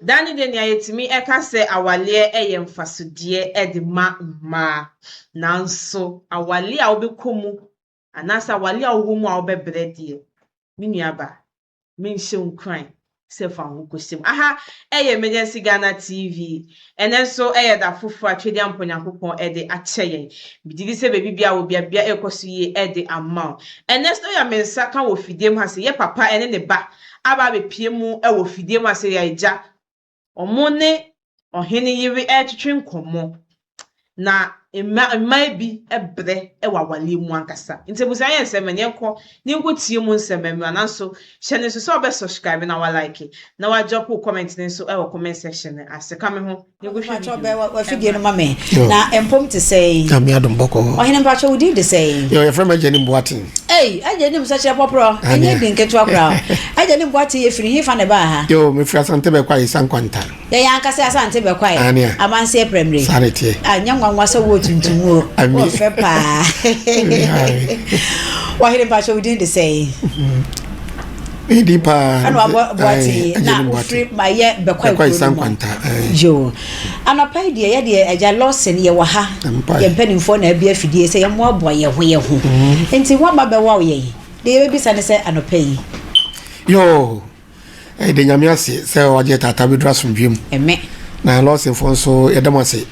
Da no deɛ nea yɛtumi ɛka sɛ awaleɛ ɛyɛ mfasodeɛ ɛde ma mmaa nanso awaleɛ a wobɛkɔ mu anaasɛ awaleɛ a wowɔ mu a wobɛbrɛ deɛ me nua ba menhyɛ wo nkuran sɛ fa wo ho kɔhyɛ mu. Aha ɛyɛ Emergency Ghana TV Ɛnnɛ nso ɛyɛ da foforo a Twedean Mpa Onyankopɔn de akyɛ yɛn. Migye di sɛ baabi biara a wobia biara ɛrekɔ so yie de ama wo. Ɛnnɛ nso yɛ me nsa ka wɔ fidiem ha sɛ yɛ papa ne ne ba aba abɛpue mu wɔ fidiem ha sɛ yɛ agya. Wɔne ɔhene yere retwetwe nkɔmmɔ. na mma mmaa bi brɛ wɔ awareɛ mu ankasa. Nti abusua yɛ nsɛm ɛne ɛnkɔ ne nkɔ tie mu nsɛm mmra nanso hyɛ ne nso sɛ ɔbɛ subscribe na wa like na wa drop wo comment ne nso wɔ comment section no ase ka me ho na ɛgu hwɛ video wafidie no ma me na ɛmpom te sɛ yi na me adom bɔkɔ hɔ ɔhene mpakyɛ wo din de sɛ yi yɛ yɛfrɛ ma agya ne mboaten ei agya ne msɛ kyerɛ pɔporɔ ɛnyɛ din ketewa koraa agya ne mboaten yɛ firi hefa ne baa ha yo mefiri asantɛ bɛkɔ ayɛ sa nkwanta Yɛn ankasa Asante bɛkwae. Aane a. Amanseɛ prɛmire. Saa na ɛteɛ. Ah, nyɛ nwanwa sɛ wo tuntum o. Ami. Wo fɛ paa. Ɔhene mpakyɛ wo din de sɛn? Me din paa. Ɛna wabɔ boate na ofiri ma yɛ bɛkwae kuro no mu. Yo. Anɔpa yi deɛ yɛ deɛ agya Lawson yɛ wɔ ha. Yɛ mpanimfoɔ na abi afidie sɛ yɛmmoaboa yɛn ho yɛn ho. Nti wɔn ba bɛwaw yɛn. Deɛ yɛbɛbisa ne sɛ anɔpa yi. Yo. Yɛda Nyame ase sɛ wagye taataa bɛduru asomdwoe mu. Ɛmɛ. Na lɔɔsenfoɔ nso yɛda mo ase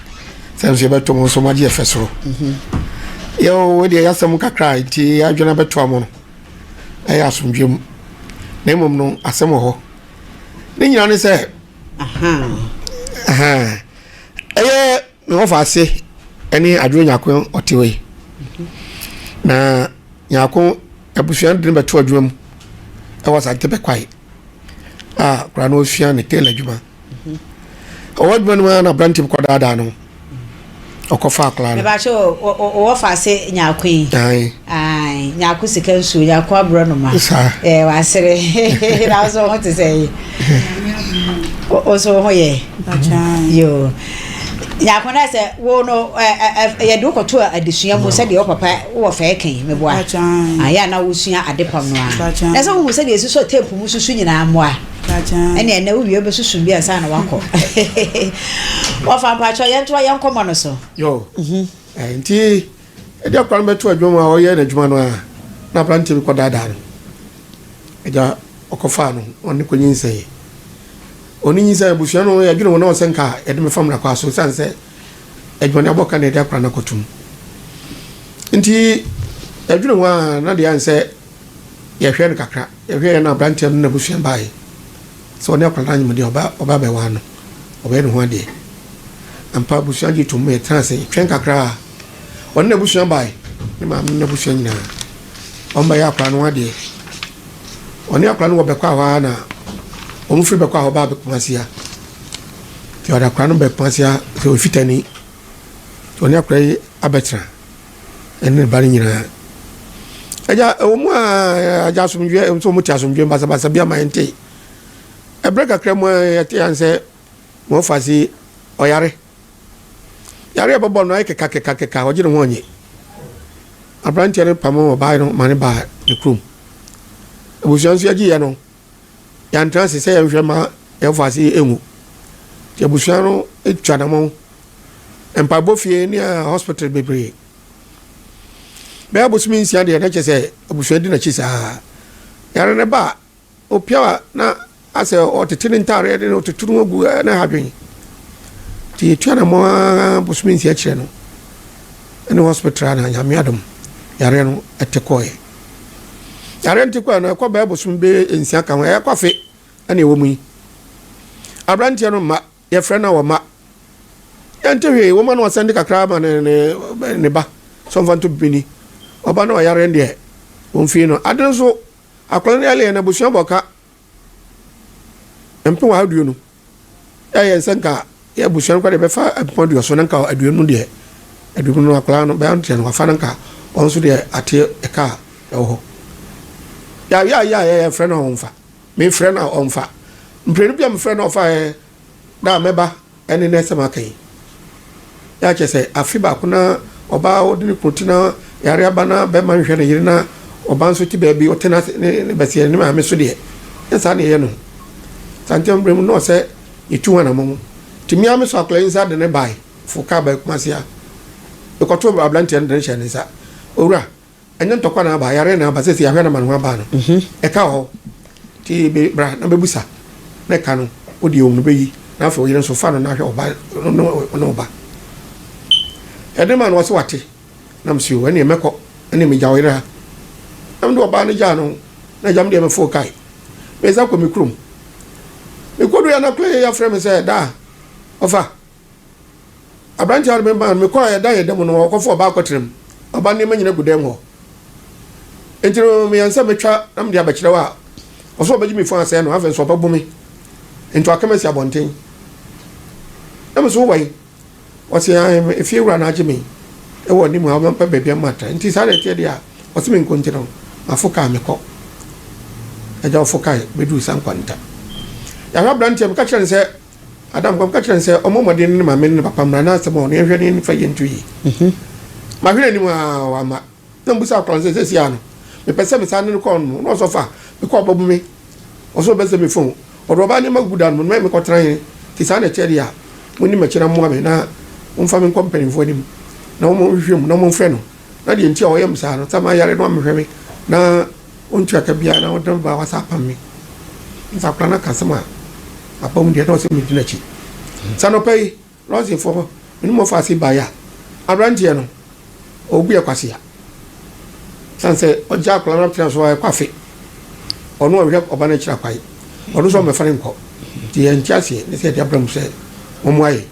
sɛ nso yɛbɛto mo nso moagye yɛfɛ soro. Mhm. Yɛo wei deɛ yɛasɛm kakra a nti adwene abɛtoa mo no ɛyɛ asomdwoe mu. Na mmom no asɛm wɔ hɔ. Ne nyina ne sɛ ɛyɛ Na wɔfa ase ne adwene nyako ɔte wei na nyako abusua no de no bɛto adwuma mu ɛwɔ asante bɛkwae a koraa na ɔsua ne tailor adwuma ɔwɔ adwuma no mu a na aberante bi kɔdaadaa no ɔkɔfa akwadaa no. Mebaakyɛ ɔwɔ fa ase nyako yi. Ae, Nyarko sika nsuo, Nyarko aborɔnoma. Saa. Ɛɛ wasere. Na nso ho te sɛ yi. Nso ho yɛ. Yoo. Nyarko na sɛ wo no yɛde wo kɔto adesua mu sɛdeɛ wo papa wɔ fɛɛ kan meboa. Ayɛ na wosua ade pam no a. Na sɛ wohu sɛdeɛ ɛsi sɔ teepu mu susu nyinaa mmoa. Ɛne ɛnɛ wowie wobɛsusu bi ansa na wakɔ. Wɔfa mpakyɛ yɛntoa yɛnkɔmmɔ no so. Yoo. Mhm. Eh, nti Agya kura no bɛto adwuma mu a ɔyɛ n'adwuma no ara na aberanteɛ bi kɔdaadaa no. Agya ɔkɔfaa no ɔne kɔ nyinsɛn. Ɔne nyinsɛn abusua no yɛdwene wɔn na sɛ nka yɛde mefa mmara kwa so sane sɛ adwumane abɔ ka na yɛde akora no akɔtom. Nti yɛdwene ho a na deɛ ayɛ sɛ yɛhwɛ no kakra yɛhwɛ yɛ na aberanteɛ no n'abusua baeɛ. Sɛ ɔne akwadaa no anyem deɛ, ɔba ɔba bɛwaa no, ɔbɛyɛ ne ho adeɛ. Ampa, abusua gye tomm. Yɛtenaa ase, yɛtwɛn kakra a, ɔne n'abusua bae, ne maame ne n'abusua nyinaa. Wɔbɛyɛ akwadaa no ho adeɛ. Ɔne akwadaa no wɔ Bɛkɔ a hɔ ara na wɔfiri Bɛkɔ a hɔ baa Kumasi ha. Nti ɔde akwadaa no baa Kumasi ha sɛ Ofitani. Nti ɔne akwadaa yi abɛtena. ɛne ne ba no nyinaa. Agya, ɛwɔ mu a agya asomdwoeɛ nso wɔte asomdwoeɛ basabasa bi ama yɛnte. Ɛberɛ kakra mu a yɛte yɛn sɛ wɔfa se ɔyare. Yare a ɛbɛbɔ no ayɛ kekakekakeka ɔgye ne ho ɔnye. Aberanteɛ no pamo ɔbaa no ma ne baa ne kurom. Abusua nso yɛgye yɛ no. yɛantra ase sɛ yɛnhwɛ ma yɛmfa ase nhu. Nti abusua no twa anamɔn. Mpaebɔ fie ne hospital bebree. Bɛyɛ abosome nsia deɛ na kyɛ sɛ abusua di n'akyi saa. Yare no ba a, opia na asɛ ɔtete ne ntaareɛ de ɔtete no agu ne ha dwen. Nti yɛtua anamɔn ara bosome nsia kyerɛ no ɛne hospital na nyame adom yareɛ no ɛte kɔɛ. Arɛnti kwan no ɛkɔ bɛɛ bosom bɛyɛ nsia ka ho ɛyɛ kɔfe ɛna ɛwɔ mu yi aberanteɛ no mma yɛfrɛ no a wɔma yɛnte hwee wɔma no ɔsɛnde kakra ma ne ne ne ba sɔmfa nto bini ɔba no ɔyare deɛ wɔmfii no ade nso akwadaa no yɛ lɛɛ na abusua bɔ ka mpem aduonu. Ɛyɛ sɛ nka yɛ abusua no kora deɛ bɛfa mpem aduoso na nka aduonu no deɛ aduonu no akwadaa no bɛyɛ nteɛ no wafa no nka wɔn nso deɛ ateɛ ɛka a ɛwɔ hɔ. Yɛayɛ ayɛ a yɛyɛ frɛ no a ɔmfa. Mefrɛ no a ɔmfa. Mprenu bi a mefrɛ no ɔfa yɛ Da a mɛba ne nnɛ sɛ maka yi. Na kyerɛ sɛ afe baako na ɔbaa a ɔde ne kunu te na yare aba na bɛrima nhwɛ ne yere na ɔba nso te baabi ɔte na ne bɛseɛ ne maame so deɛ ne saa ne ɛyɛ no saa nti mmerɛ mu na ɔsɛ yɛtu ho anamɔn nti mmea me so akwadaa yi nsa de ne bae fo kaa bae kumase a mekɔto aberanteɛ no de ne hyɛ ne nsa owura Ɛnyɛ ntɔkwa na aba, yareɛ na aba, sɛsɛ yɛahwɛ no ama no ho aba no, ɛka wɔ hɔ. Nti bra na bɛbusa na ɛka no, wo deɛ ɔhunu bɛyi na afei wo yere nso fa no na hwɛ ɔba ne wo ba. Ɛde ma no ɔse wate, na mese o ɛneɛ mɛkɔ, ɛneɛ megya wo yere ha. Na mede ɔbaa no gyaa no, na agya me deɛ mefoo kae, mesan kɔ me kurom. Mekɔduu yɛ na kora yɛ yɛafrɛ me sɛ daa, ɔfa, Aberantewa no memaa no, mekɔɔ a yɛdan yɛn dan mu no, ɔkɔfaa ɔbaa kɔtenam. Ɔbaa nneɛma nyina gu dan mu hɔ. Enti no, meyɛ nsɛ metwa na mede abɛkyerɛ wo a, ɔsɛ ɔbɛgye me fon asɛe no, afei nso ɔbɛbo me nti waka me asi abɔnten. Na me so wowɔ he? Ɔse, ae, efie wura no agye me wɔ anim ha, ɔmɛmpɛ baabi ama atra. Nti saa na ɛteɛ deɛ a, ɔse menkɔ nti no, mafo kaa mekɔ. Agya ɔfo kae bɛduu Sankwanta. Yɛahwɛ aberanteɛ, meka kyerɛ no sɛ, Adam kɔm ka kyerɛ no sɛ ɔmmɔ mmɔden ne ne maame ne ne papa mmra na asɛm a ɔne yɛnhwɛ ne yɛn fa yɛ nto yie. Mhm. Mahwere anim a wamma. Na mbusa akora no sɛ sɛsi a no, mepɛ sɛ mesan ne no kɔ no. Na ɔsɔfo a mekɔ a ɔbɛbo me, ɔsɛ ɔbɛsɛ me fon. Ɔde ɔbaa nneɛma gugu dan mu, na ɔne me kɔtra he. Nti saa na ɛkyɛ deɛ a, monni m'akyi na mmoa me na momfa me nkɔ mpanimfoɔ anim na wɔma wɔnhwehwɛ mu na wɔmfrɛ no. Na deɛ nti a ɔyɛ me saa no, sɛ mayare na ɔmmɛhwɛ me, na ɔntua ka biara, na ɔde me ba a wasa apam me. Nti akwadaa no aka asɛm a, apam mu deɛ na ɔsɛ medi n'akyi. Sɛ anɔpa yi, lɔɔsefoɔ no, me ne mo fa ase baeɛ a, aberanteɛ no, ɔgu yɛ kwasea. Sane sɛ ɔgya akwadaa no atena so a ɛkɔ afe. Ɔno ɔhwɛ ɔba no akyiri akwae. Ɔno nso ɔmmɛfa no nkɔ. Nti yɛnte aseɛ ne sɛ yɛde abra mu sɛ wɔmmoa yɛn.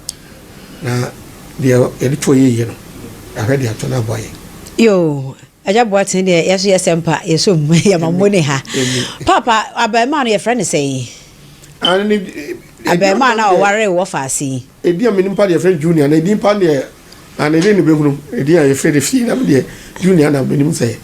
Na deɛ yɛde to ɔyɛ yie no, yɛahwɛ de ato no aboa yɛn. Yoo, Agya Boateng deɛ yɛn nso yɛ sɛmpa, yɛsom, yɛma mo ne ha. Paapa, abarimaa no yɛfrɛ no sɛn? Abarimaa no a ɔwaree wɔ faase yi. Edin a menim pa deɛ yɛfrɛ no Junior, na edin pa deɛ na ne de no bɛhunu edin a yɛfrɛ no fie na me deɛ Junior na menim sɛ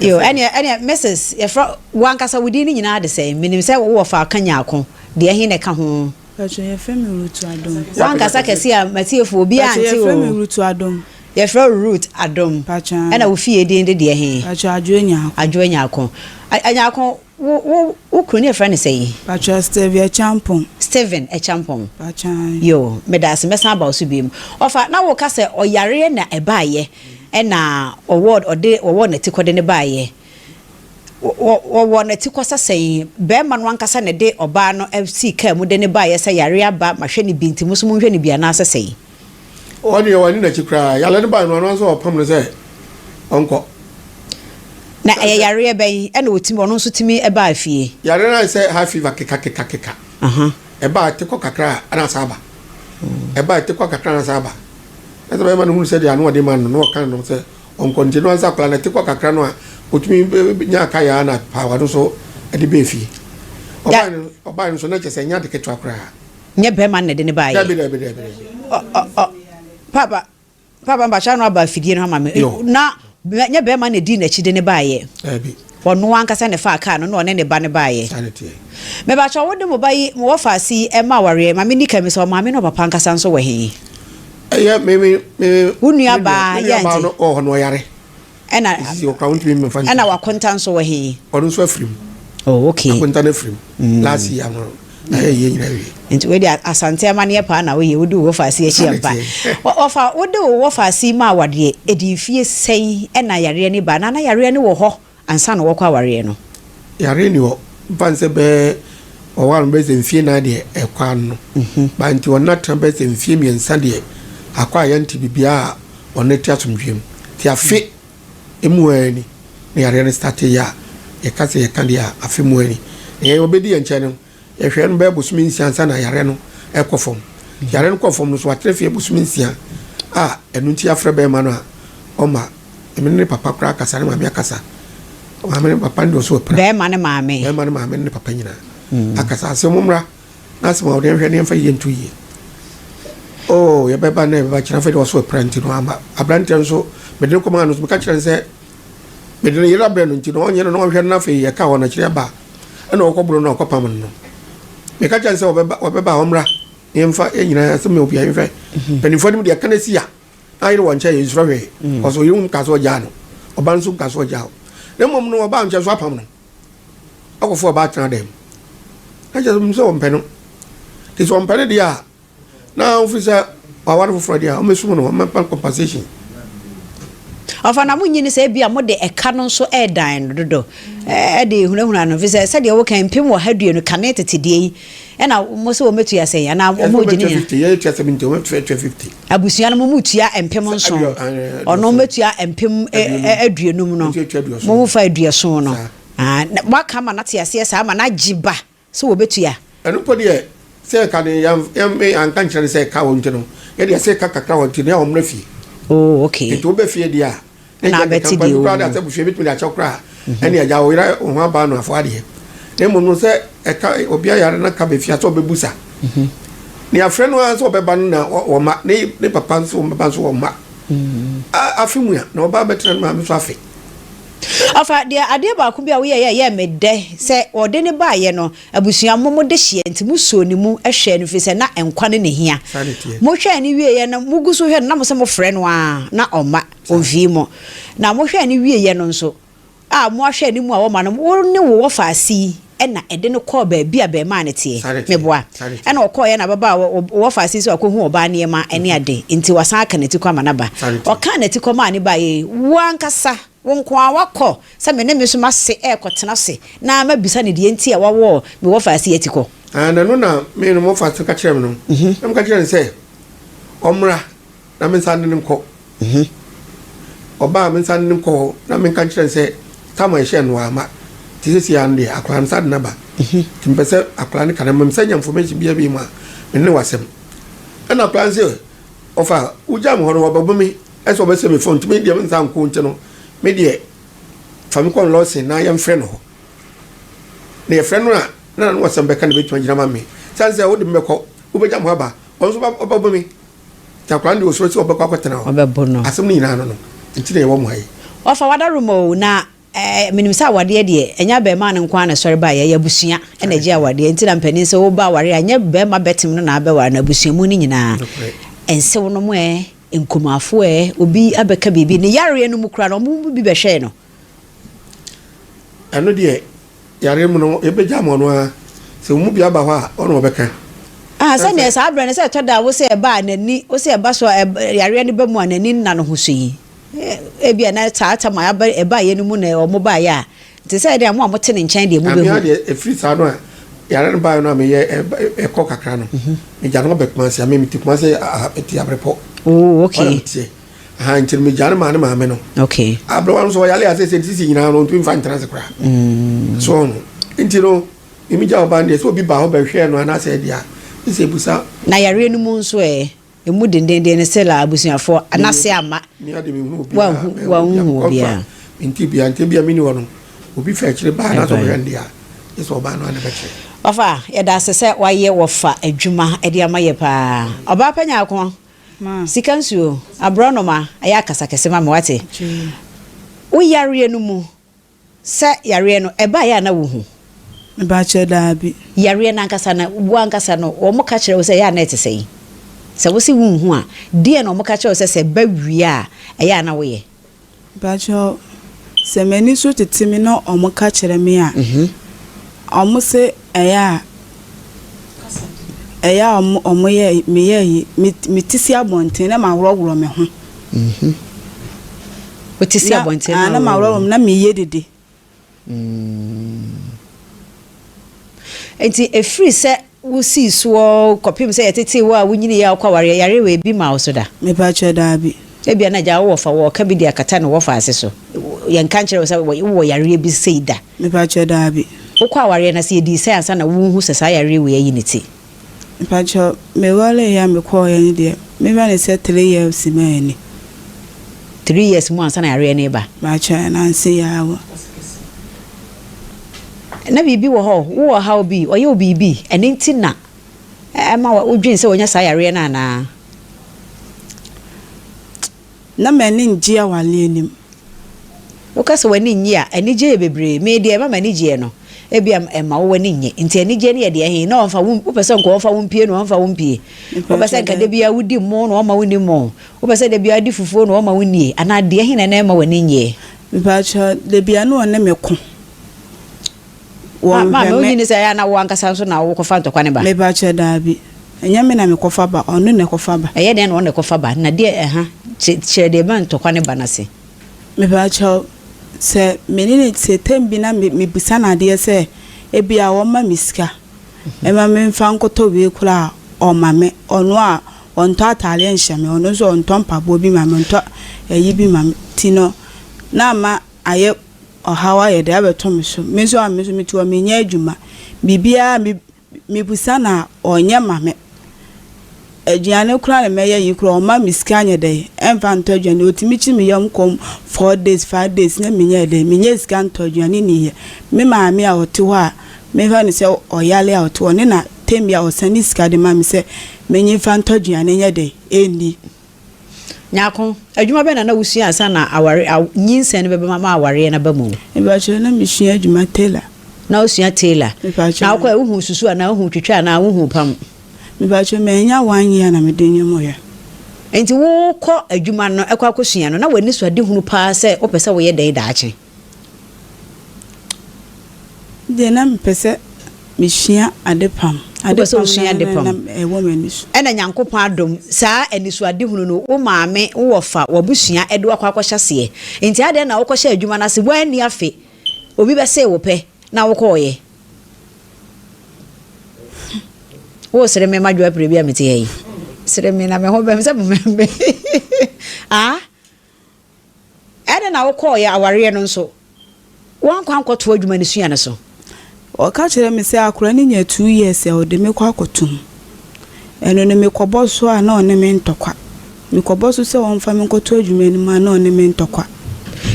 Yo, ɛneɛ ɛneɛ Mrs. Yɛfrɛ wankasa wo din no nyinaa de sɛn? Menim sɛ wowɔ fa Kanyaako, deɛ ɛhe na ɛka ho? Pacho yɛfrɛ me Rutu Adom. Wankasa kɛse a m'atiefo obiara nte o. Pacho yɛfrɛ me Rutu Adom. Yɛfrɛ wo Ruth Adom. Pacho aa. Ɛna wo fie din de deɛ he? Pacho Adwo Anyarko. Adwo Anyarko. Anyarko wo wo wo kunu ne yɛfrɛ no sɛn? Pacho Steve Akyampong. Steven Akyampong. Pacho aa. Yoo, medaase mɛsan aba wo so biom. Ɔfa, na woka sɛ ɔyareɛ na ɛbaeɛ ɛna ɔwɔ ɔde ɔwɔ n'atikɔde no baeɛ. Wɔwɔ n'atikɔsa sɛn? Barima no ankasa na ɛde ɔbaa no sii kaa mu de no baeɛ sɛ yareɛ aba ma hwɛ no bi nti mo nso monhwɛ no bi anaasɛ sɛn? Ɔno deɛ wanni n'akyi koraa. Yareɛ no baeɛ no ɔno ara nso ɔpam no sɛ ɔnkɔ. Na ɛyɛ yareɛ bɛn na ɔtumi ɔno nso tumi baa fie? Yareɛ no ayɛ sɛ high fever kekakekakeka. Ɛba a ɛte kɔ kakra a na asan aba. Ɛba a ɛte kɔ kakra a na asan aba. Na sɛ barima no hunu sɛ deɛ ano ɔde ma no no na ɔka no sɛ Ɔnkɔngye no ansa akwadaa no te kɔ kakra no a, ɔtumi nyaa ka yɛa na paawa no nso de bɛɛ fie. Ɔbae no ɔbae no nso na kyɛ sɛ ɛnyɛ ade ketewa koraa. Nyɛ bɛɛma no na ɛde no baeɛ. Daabi daabi daabi daabi. Ɔ ɔ ɔ paapa paapa mpakyɛ ano aba afidie no ha ma me. Yo. Na nyɛ bɛɛma no na ɛdii n'akyi de no baeɛ. Daabi. Ɔno ankasa na ɛfaa kaa no na ɔne ne ba no baeɛ. Sane teɛ. Mebakyɛw wode mo ba yi, mo wɔfaase yi, ɛmma awareɛ? Ma menni kan bisa, ɔmaame ne ɔpapa ankasa nso wɔ he? Ɛyɛ me, me, me, Wo nua me baa, nua, me nua baa yɛnte? no wɔ hɔ na ɔyare. Ɛna, Nti sɛ ɔkora wontumi mmfa nkyerɛ. ɛna wakonta nso wɔ he? Ɔno nso afiri mu. Oh, okay. Akonta no afiri mu. Last year no, na yɛyɛ nyina wie. nti wei deɛ asante amaneɛ paa na woyɛ wode wo wɔfaase akyi ampa wɔfa wode wo wɔfaase yi ma awadeɛ ɛdi mfie sɛn ɛna yareɛ ne ba na na yareɛ ne wɔ hɔ ansa na wɔkɔ awareɛ no yareɛ ni hɔ mfa nsɛ bɛɛ ɔware no bɛyɛ sɛ mfie nan deɛ ɛkɔ ano mhm. ba nti ɔna tena bɛyɛ sɛ mfie mmiɛnsa deɛ akɔ a yɛnte biribiaa a ɔne te asomdwee mu nti afe Emu hɔ ara ni na yareɛ no startee yɛ a yɛka sɛ yɛka deɛ a afe mu hɔ ni. Na yɛn ɔbɛdi yɛn nkyɛn no yɛhwɛɛ no bɛyɛ bosome nsia ansa na yareɛ no rekɔ fam. Nti yareɛ no kɔɔ fam no so watena fie bosome nsia a ɛno nti yɛafrɛ barima no a ɔmma me ne ne papa koraa kasa, ne maame akasa, maame ne papa no deɛ ɔsɛ ɔpira. Barima no maame. Barima no maame ne ne papa nyinaa akasa sɛ mommra. N'asɛm a ɔde ahwɛ no yɛmfa yie nto yie. Oh, yɛbɛba na yɛbɛba kyerɛ afei de ɔso apira nti no amba. Aberanteɛ nso, mede no kɔmaa no nso, meka kyerɛ no sɛ mede ne yere abrɛ no nti no ɔnyɛ no na ɔnhwɛ no na afei yɛka hɔ no akyiri aba a ɛna ɔkɔboro no a ɔkɔpam no no. Meka kyerɛ no sɛ ɔbɛba, ɔbɛba a ɔmmra na yɛmfa yɛn nyinaa asɛm yɛ obiara nhwɛ. Mhm. Mpanimfoɔ anim deɛ ɛka no asi a na ayere wɔ nkyɛn yɛnsuro hwee. Mhm. Ɔso yere mu kaa sɛ ɔgyaa no, ɔba nso kaa sɛ ɔgyaa wo. Na mmom no ɔbaa nkyɛn so apam no. akɔfo ɔbaa tena dan mu. Na kyerɛ sɛ wɔn sɛ wɔmpɛ no. Nti sɛ wɔmpɛ no deɛ a, na wɔfiri sɛ wɔaware foforɔ deɛ a, wɔmɛsum no, wɔmɛpa compensation. Ɔfa na mo nyi no sɛ ebi a mo de ɛka no nso ɛredan no dodo ɛde ehunahuna no, efisɛ sɛdeɛ woka mpem ɔha aduonu kane tete deɛ yi Ɛna wɔn sɛ wɔbɛtua sɛn anaa wɔn mu gyina yɛn. fifty yɛyɛ tua seventy wɔn tua tua fifty. abusua no mo mu tua mpem nson ɔno mɛtua mpem aduonum no mo mu fa aduoson no waka ama no te aseɛ saa ama no agye ba sɛ wɔbɛtua. ɛno mpo deɛ sɛ ɛka no yɛn anka nkyerɛ no sɛ ɛka hɔ nti no yɛde ɛsɛ ɛka kakra hɔ nti no yɛ wɔn mmra fie. oh okay. nti wɔbɛ fie deɛ a. na abɛte deɛ ɔwɔ mu. abusua bɛtumi de akyɛ wo koraa ɛne agya wo yerɛ wo ho abaa no afoɔ adeɛ na mmom no sɛ ɛka obi ayare no ka bɛfia sɛ ɔbɛbu sa ne afrɛ no ara sɛ ɔbɛba no na ɔma ne papa nso ɔbɛba nso ɔma afe mu a na ɔba bɛtena no maame so afe afa deɛ adeɛ baako bi a woyɛ yɛ yɛ me dɛ sɛ ɔde ne baayɛ no abusua mo mo de hyeɛ nti mo suo ne mu hwɛ no firi sɛ na nkwa ne ne hia mo hwɛ ne wieɛ no mo gu so hwɛ no na mo sɛ mo frɛ no a na ɔma Ofii mo, na mohwɛɛ no wieeɛ no nso a, moahwɛ ne mu a wɔma no, wo ne wo wɔfaa sii, ɛna ɛde no kɔɔ baabi a bɛɛmaa no teɛ, meboa, ɛna ɔkɔɔeɛ na bɛbaa wɔ wo wɔfaa sii sɛ wakɔhu ɔbaa nneɛma ne ade, nti wasan aka n'atikɔ ama no aba. Ɔkaa n'atikɔ maa no baeɛ yi, wo ankasa, wo nko ara woakɔ sɛ me ne me nso mase rekɔtena ase na mabisa no deɛ nti a wawɔ me wɔfaa sii atikɔ. Ɛno na me ne me wɔfaa sii no ka kyerɛɛ me no, na meka kyerɛɛ no sɛ ɔmmra. na mensan ne no nkɔ he? Ɔba a, mensan ne no nkɔ hɔ na menka nkyerɛ no sɛ, Samuel hyɛɛ no a, amma. Nti seesei ara no deɛ, akwadaa no, saa de no aba he, nti mepɛ sɛ akwadaa no ka na mmom sɛ nya information biaa bio mu a, me ne wo asɛm. Ɛnna akwadaa no se, Ɔfa, wogyaa me hɔ no, wɔabɛbɔ me sɛ wɔbɛsɛ me fam, nti me deɛ mensan nkɔ nti no, me deɛ fa me kɔ Nlɔsen na yɛmfrɛ no hɔ, na yɛfrɛ no a, na n'ano asɛm bɛka na ɛbɛtumi agyina ama me. Esiane sɛ wode me bɛkɔ, wobɛgya me hɔ aba, ɔno nso ɔbɛbɔ me. Nyankopɔn no deɛ ɔsuro sɛ ɔbɛkɔ akɔtena hɔ. Ɔbɛbo no. Asɛm no nyinaa no no nti na yɛwɔ mmuaeɛ. Wɔafa w'adarom o, na eh, menim sɛ awadeɛ deɛ, ɛnyɛ abarimaa no nko ara na ɛsɔre baeɛ, ɛyɛ abusua na ɛgye awadeɛ. Nti na mpanin sɛ woba awareɛ a, ɛnyɛ barima bɛtem no na abɛware no, abusuamu no nyinaa. Nokorɛ. Nsewonom ɛ, nkumafoɔ ɛ, obi abɛka biribi, ne yareɛ no mu koraa no, wɔn mu bi bɛhwɛɛ no. Ɛno deɛ yare mu no yɛbɛgya ama ɔno ara sɛ wɔn mu bi aba hɔ a ɔna ɔbɛka. Ah, sɛ neɛ saa berɛ no sɛ ɛtɔ da a wo sɛ ɛba a n'ani, wo sɛ ɛba so a yareɛ no ba mu a n'ani nna no ho so yi, ebi a na saa tam a aba ɛbaeɛ no mu na wɔn baeɛ a, te sɛ deɛ mo a mote ne nkyɛn deɛ mo bɛhu. Amea deɛ ɛfiri saa no a yare no baeɛ no a meyɛ ɛkɔ kakra no, megya no abɛ Kumasi, amea mete Kumasi te Abrepɔ. Oh, okay. aha nti no megya no maa ne maame no okay aberewa no so ɔyare a sɛsɛ sisi nyinaa no ɔntumi mfa ntena ase koraa mm. so no nti no mimi gya ɔba no deɛ sɛ obi ba hɔ bɛhwɛɛ no anaasɛ ɛdeɛ a ɛsɛ busa na yareɛ no mu nso ɛ ɛmu dendenden no sɛ la abusuafoɔ anase ama wanhu obiara nti bia ntɛ bia meni hɔ no obi fa akyire baa na sɛ ɔbɛhwɛ no deɛ a ɛsɛ ɔbaa no ane bɛkyerɛ ɔfa yɛda ase sɛ wayɛ wɔfa adwuma de ama yɛ paa ɔbaa pɛ nyaako Sika nsuo, aborɔnoma, ɛyɛ akasa kɛse ma me wate. Wo yareɛ no mu, sɛ yareɛ no ɛbaeɛ a na wo hu? Me ba kyerɛ daabi. Yareɛ no ankasa no, wo ankasa no wɔn ka kyerɛ wo sɛ ɛyɛ a na ɛte sɛn? Sɛ wo se wo nhu a, deɛn na wɔn ka kyerɛ wo sɛ sɛ ɛba wie a ɛyɛ a na wo yɛ? Mpakyɛw, sɛ m'ani so tete me na ɔmo ka kyerɛ me a, ɔmo se ɛyɛ a, ɛyɛ a ɔmo, ɔmo yɛ, me yɛ ayi, me, me te si abɔnten na ma worɔworɔ me ho. Wo te si abɔnten na worɔworɔ me ho. Na ma worɔworɔ me na me yɛ dede. Enti ɛfiri sɛ wosii soɔ kɔpem sɛ yɛtetee wo a wonyiniiɛ a wokɔawareɛ, yareɛ wei bi maa wo so da? Mepakyɛ, Daabi. Ebia na agya wo wɔfa wɔ ɔka bi de akata ne wɔfa ase so. Yɛnka nkyerɛɛ wo sɛ wowɔ yareɛ bi sei da? Mepakyɛ, Daabi. Wokɔawareɛ na sɛ yɛdii sɛn ansa na worehu sɛ saa yareɛ wei ayi ne ti? Mpakyɛw me waree a me kɔɔ yɛ no deɛ me hwɛ no sɛ three years ma yɛ ni. Three years mu ansa na yareɛ no reba. Mpakyɛw yɛ nanse yɛ ara wɔ. Na biribi wɔ hɔ wo wɔ ɔhaw bi ɔyɛ wo biribi ɛno nti na ɛma wo dwen sɛ wanya saa yareɛ no anaa. Na m'ani nnye awale anim. Woka sɛ w'ani nnye a, anigye yɛ bebree. Me deɛ ɛma m'ani gyeɛ no, ebia ɛma wo w'ani nnye. Nti anigyeɛ no yɛ deɛ he? Na ɔmfa wo, wopɛ sɛ nka ɔmfa wo mpue na ɔmfa wo mpue? Wopɛ sɛ nka da biara wodi mmoo na ɔmma wonni mmoo? Wopɛ sɛ da biara wodi fufuo na ɔmma wonnie? Anaa deɛ he na na ɛmma w'ani nnyeɛ? Mpakyɛw, da biara na ɔne me ko. wɔnhwɛ me. Maame, wonyi ne sɛ ɛyɛ a na wo ankasa nso na wokɔfa ntɔkwa no ba? Mepakyɛ, daabi. Ɛnyɛ me na mekɔfa ba, ɔno na ɛkɔfa ba. Ɛyɛ dɛn na ɔno na ɛkɔfa ba, na deɛ ɛha? Kyerɛ deɛ ɛma ntɔkwa no ba no ase. Mepakyɛ, sɛ me ne no te tam bi na mebisa no adeɛ sɛ ebia ɔmma me sika mma memfa nkɔtɔ wei koraa a, ɔma me. Ɔno a, ɔntɔ ataadeɛ nhyɛ me, ɔno nso ɔntɔ mpaboa bi ma me, ɔntɔ ayi bi ma me. Nti no, na ama ayɛ. Ɔhaw ayɛ de abɛto me so. Me nso a me nso metu hɔ menyɛ adwuma. Biribiara me mebusa no a ɔnyɛ ma me. Aduane koraa na mɛyɛ yi koraa ɔmma me sika nyɛ dɛ ɛmfa ntɔ aduane. Ɔtumi kyi me yam kɔm four days, five days na menyɛ dɛ menyɛ sika ntɔ aduane nni yɛ. Me maame a ɔte hɔ a mefrɛ no sɛ ɔyale a ɔte hɔ ne na tam biara ɔsane sika de ma me sɛ menye mfa ntɔ aduane nyɛ dɛ nni. Nyarko, adwuma bɛn na na wusua ansa na aware, aw, nyinsɛn no bɛba ma awareɛ no aba mu? Mepakyɛw, na mesua adwuma tailor. Na wosua tailor. Mepakyɛw. Na wokɔɛ, wohuu susu anaa wohuu twitwa anaa wohuu pam? Mepakyɛw, mannya one year na mede nneɛma ɔyɛ. Enti worekɔ adwuma no, ɛkɔ akɔsua no, na w'anisoadehunu paa sɛ wopɛ sɛ woyɛ dɛn daakye? Deɛ na mepɛ sɛ mesua adepam. Wopɛ sɛ wosua adepam? Ɛwɔ m'ani so. Ɛna Nyankopɔn adom, saa anisoadehunu no, wo maame, wo wɔfa, w'abusua de wo akɔ akɔhyɛ aseɛ. Nti adɛn na wokɔhyɛɛ adwuma no ase? Woanni afe, obi bɛsee wo pɛ na wokɔɔeɛ. Wosere me ma dwoa pire bi a mete ha yi. Sere me na me ho bɛm sɛ momɛm me. Ah? Ɛdɛn na wokɔɔ yɛ awareɛ no nso woankɔ ankɔtoa adwuma no sua no so? Ɔka kyerɛɛ me sɛ akora no nya two years a ɔde me kɔ akɔto mu. Ɛno no me kɔbɔ so a na ɔne me ntɔkwa. Me kɔbɔ so sɛ ɔmfa me nkɔto adwuma no mu a na ɔne me ntɔkwa.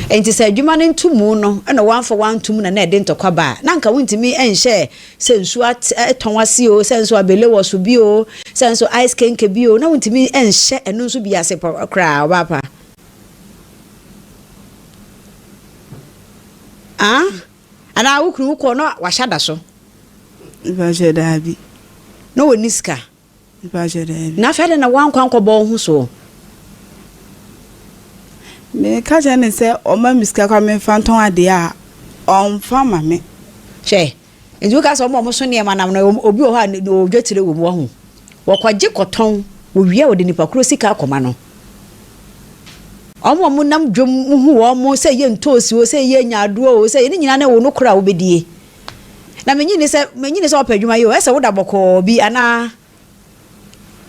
Enti sɛ adwuma no nto mu no na woamfa woanto mu na na ɛde ntɔkwa ba a, na anka wontumi nhyɛɛ sɛ nsuo atɔn ase o, sɛ nso abele wɔ so bi o, sɛ nso ice kenke bi o, na wontumi nhyɛ ɛno nso bi ase koraa ɔbaa pa. Ah? Anaa wo kunu wokɔ na wahyɛ da so. Nipa sɛ daabi. Na wɔnni sika. Mepakyɛ daabi. Na afei adɛn na woankɔ ankɔbɔ wo ho soɔ? Meka kyerɛ no sɛ ɔma me sika koraa memfa ntɔn adeɛ a, ɔmfa mma me. Hwɛ, nti woka sɛ wɔn a wɔso nneɛma nam no, obi wɔ hɔ a ne odwetire wɔ mu, wahu. Wɔkɔgye kɔtɔn, wɔwie a wɔde nipa korɔ sika akɔma no. Wɔn a wɔnam dwam, wohu wɔn, sɛ ɛyɛ ntoosi o, sɛ ɛyɛ nyaadoɔ o, sɛ ɛyɛ, ne nyinaa no wo no korɔ a wobɛdie. Na mennye nni sɛ, mennye nni sɛ ɔpɛ adwuma yi o, ɛsɛ sɛ woda bɔkɔɔ bi anaa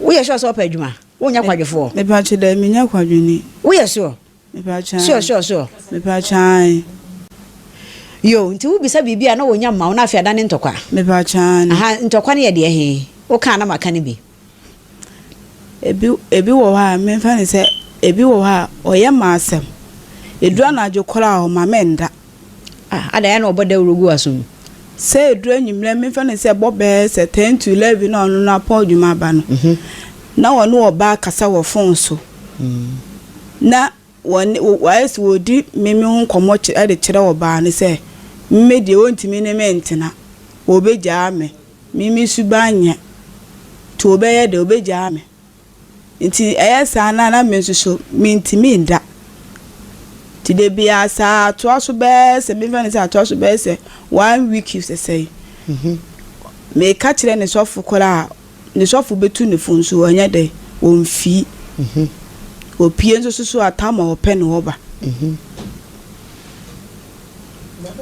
woyɛ sure sɛ ɔpɛ adwuma, wonyɛ kwadwofoɔ. Mepaakyɛ daabi menyɛ kwadwoni. Woyɛ sure? Mepaakyɛ ae. Sure sure sure. Mepaakyɛ ae. Yoo, nti wo bisa biribi a na wɔnya mma wo na afei adane ntɔkwa? Mepaakyɛ aane. Ahaa, ntɔkwa no yɛ deɛ he? Wokaa na maka no bi. Ebi ebi wɔ hɔ a memfa no sɛ ebi wɔ hɔ a ɔyɛ m'asɛm. Edu anadwo koraa a ɔma mennda. Ah adɛn ayɛ na ɔbɔ dawuro gu w'aso mu? Sɛ edu anwummerɛ memfa no sɛ ɛbɔ bɛyɛ sɛ ten to eleven na ɔno no apɔn adwuma aba no, na ɔne ɔbaa kasa wɔ fon so. Na Wɔne, wɔ, wɔayɛ sɛ wɔredi me, me ho nkɔmmɔ kyerɛ, de kyerɛ ɔbaa no sɛ, Me deɛ, wɔntumi ne me ntena. Wɔbɛgyaa me. Me, me suban nyɛ. Nti wɔbɛyɛ dɛn? Wɔbɛgyaa me. Nti ɛyɛ saa no a, na me nso so, mentumi nda. Nti da biara saa, atoa so bɛyɛ sɛ, memfa no sɛ atoa so bɛyɛ sɛ one week sɛsɛi. Meka kyerɛ ne sɔfo koraa a, ne sɔfo betu no fo nso, ɔnyɛ dɛ, omfi. Opue nso susuw atam a ɔpɛ no hɔ ba.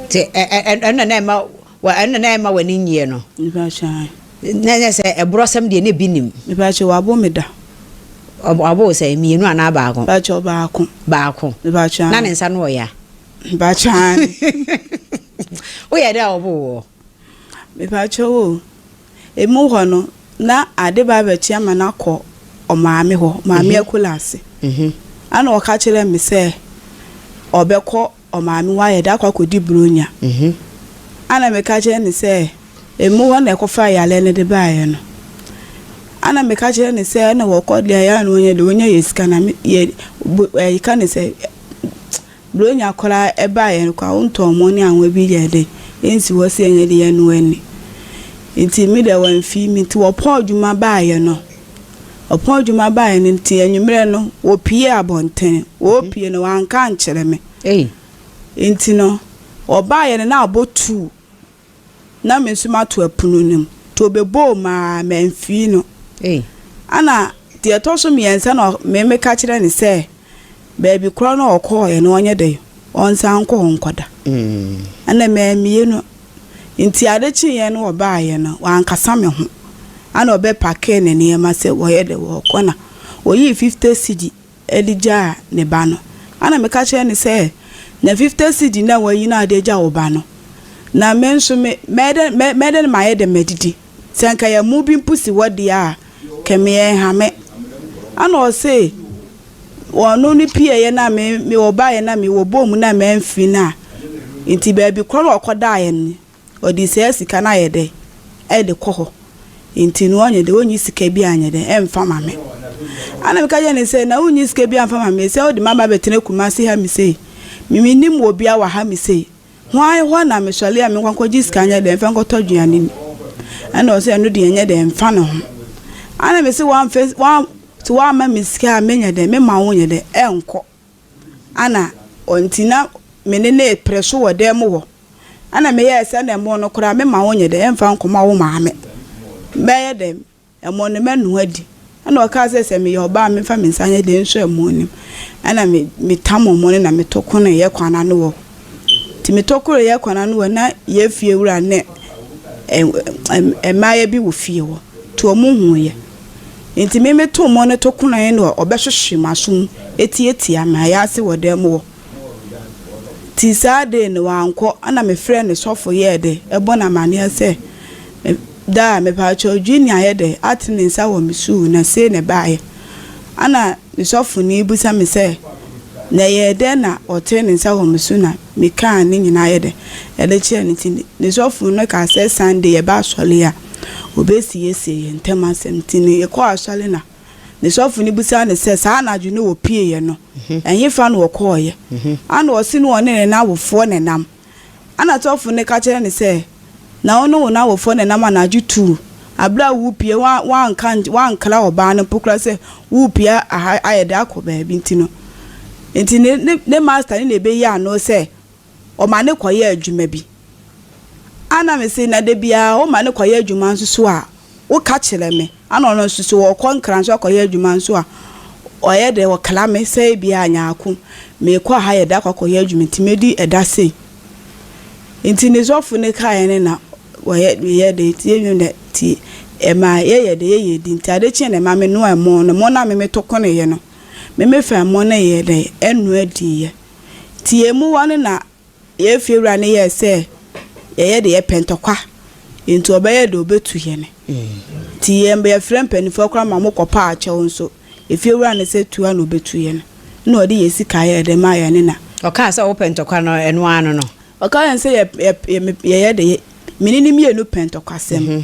Nti ɛno na na ɛma ɛno na na ɛma w'ani nyeɛ no. Na nyɛ sɛ ɛborɔsɛm deɛ na bi nim. Mepaakyɛ wabo me da. Wabo sɛ mmienu anaa baako. Mepaakyɛ baako. Baako. Mepaakyɛ. Na ne nsa no ɔya. Mepaakyɛ. Woyɛ dɛ a ɔbo wɔ. Mepakyɛw o, emu hɔ no na ade ba abɛkye ama no akɔ ɔmaame hɔ, Maame Akula ase. Ɛna ɔka kyerɛɛ me sɛ ɔbɛkɔ ɔmaame hɔ ayɛ dɛ akɔ akɔdi Buronya. Ɛna meka kyerɛɛ no sɛ emu hɔ na ɛkɔfaa yareɛ no de baeɛ no. Ɛna meka kyerɛɛ no sɛ ɛna wɔkɔ deɛ ɛyɛ a na wɔnyɛ deɛ wɔnya yɛ sika na me yɛ bo ɛka no sɛ. Bronya koraa ɛbaa yɛn kɔ a wo ntɔmɔ ne anwa bi yɛ dɛ ɛnsi hɔ sɛ yɛnyɛ de yɛn ani nti me deɛ wamfii me nti wɔpɔn adwuma baayɛ no wɔpɔn adwuma baayɛ no nti anwummerɛ no wɔpie abɔnten wɔpie no wanka ankyerɛ me nti no wɔbaayɛ no na abɔ two na me so mato ɛpono no mu, nti ɔbɛbɔɔ mu ara mamfiri no. Ɛna deɛ ɛtɔ so mmiɛnsa na me meka kyerɛ no sɛ baabi korɔ na ɔkɔɔeɛ no ɔnyɛ dɛn ɔnsan nkɔ hɔ nkɔda. Ɛna mammie no, nti ade kyeeɛ no ɔbaeɛ no wankasa me ho, ɛna ɔbɛpakee ne nneɛma sɛ ɔyɛ dɛn ɔrekɔ na ɔyii fifty cedi. de gyaa ne ba no, ɛna meka kyerɛɛ no sɛ, Nya fifte sidi na wayi no a de agya wo ba no, na me nso me, mɛyɛ dɛn, mɛ, mɛyɛ dɛn na mayɛ dɛm adidi? Sɛ nka yɛn mmoa bi mpo si hɔ deɛ a, kɛ me ɛnhame. Ɛna ɔse, Ɔno no pieeɛ no a me, me, ɔbaeɛ no a mewɔ bɔɔ mu no a mamfiri no a, nti baabi korɔ na ɔkɔdaeɛ no, Ɔde saa sika no ayɛ dɛ ɛde kɔ hɔ nti no ɔnyɛ dɛ ɔnyi sika bi anyɛ dɛ ɛnfa ma me ana meka kyerɛ no sɛ na wonyi sika bi amfa ma me sɛ wode maba bɛtena Kumasi ha me sei me mennim wɔ bia wɔ ha me sei hwan hɔ na me sɔre a me nkɔnkɔ gye sika nyɛ dɛ mfa nkɔtɔ aduane ni ɛna ɔsɛ ɛno deɛ nyɛ dɛ mfa ne ho ana me se wɔamfa wɔn sɛ wɔama me sika a menyɛ dɛ me ma wo nyɛ dɛ ɛnkɔ Ana ɔntsi na me ne no reprɛ so wɔ dan mu hɔ? Ana meyɛɛ sɛ nna mbo no koraa mema wo nyɛ dɛ mmfa nkɔma wo maame? Mɛyɛ dɛn? Mbo no mɛnoa adi. Ana ɔkaa sɛ, Sɛ meyɛ ɔbaa a memfa me nsa nyɛ dɛ nsua mbo no mu. Ana me metam mbo no na metokoree yɛ kwan ano hɔ. Ntsi metokoree yɛ kwan ano hɔ na yɛ fie wura ne mbaayɛ bi wɔ fie hɔ, ntsi wɔhun yɛ. Enti me meto mmɔ no to konae no a ɔbɛhwehwe m'asom atiatia me ayɛ ase wɔ dɛm hɔ. Tsi saa dee no ɔannkɔ ana mefrɛɛ ne sɔfo yɛɛ dɛ ebɔ no amaneɛ sɛ me da a mepakyɛw Jeannie ayɛ dɛ ate me nsa wɔ me suu na sei na ɛbaeɛ. Ana me sɔfoni busa me sɛ na ɛyɛɛ dɛn na ɔtee ne nsa wɔ me su na Mekaa ne nyinaa yɛ dɛ ɛde kyerɛɛ no nti ne sɔfo no kaa sɛ Sunday yɛba asɔre a obesiesie yɛn ntam asɛm nti no yɛkɔɔ asɔre na ne sɔfo no bisaa no sɛ saa anadwo no wɔpieeɛ no ɛhefa na wɔkɔeɛ ana ɔse no ɔne ne n'awofoɔ na ɛnam ana sɔfo no ka kyerɛɛ no sɛ Na wo ne wo n'awofoɔ na ɛnam anadwo tuo, berɛ a worepue, woanka, woankra ɔbaa no mpo koraa sɛ worepue aha, ayɛ dɛ akɔ baabi nti no. Enti ne, ne, ne master no na ɛbɛyi ano sɛ ɔma no kɔyɛ adwuma bi. Ɛna mese, na dabiara woma no kɔyɛ adwuma nso so a, woka kyerɛ me. Ana ɔno nso sɛ ɔkɔ nkra nso akɔyɛ adwuma nso a ɔyɛ dɛ ɔkra me sɛ ebia nyaako mekɔ aha yɛ dɛ akɔ akɔyɛ adwuma nti mɛdi ɛda sei nti ne sɔfo no kaeɛ no na wɔyɛ meyɛ dɛ nti yɛnwom dɛ nti ɛma yɛyɛ dɛ yɛyɛ adi nti ade kyeɛ na ɛma me noa ɛmo no ɛmo no a me me to koneeɛ no me me fa ɛmo no yɛ dɛ ɛnoa diiɛ nti yɛn muwa no na Yɛn fiewura no yɛɛ sɛ yɛyɛ deɛ yɛpɛ ntɔkwa nti ɔbɛyɛ deɛ ɔbɛtu yɛn nti yɛfrɛ mpaninfoɔ koraa ma wɔkɔpaa akyɛw nso efiewura no sɛ tu ara na ɔbɛtu yɛn na ɔde yɛn sika yɛɛ de maa yɛne na Ɔkaa sɛ wopɛ ntɔkwa no ɛno ara no no. Ɔkaa yɛn sɛ yɛyɛ deɛ mene ne mmienu pɛ ntɔkwasɛm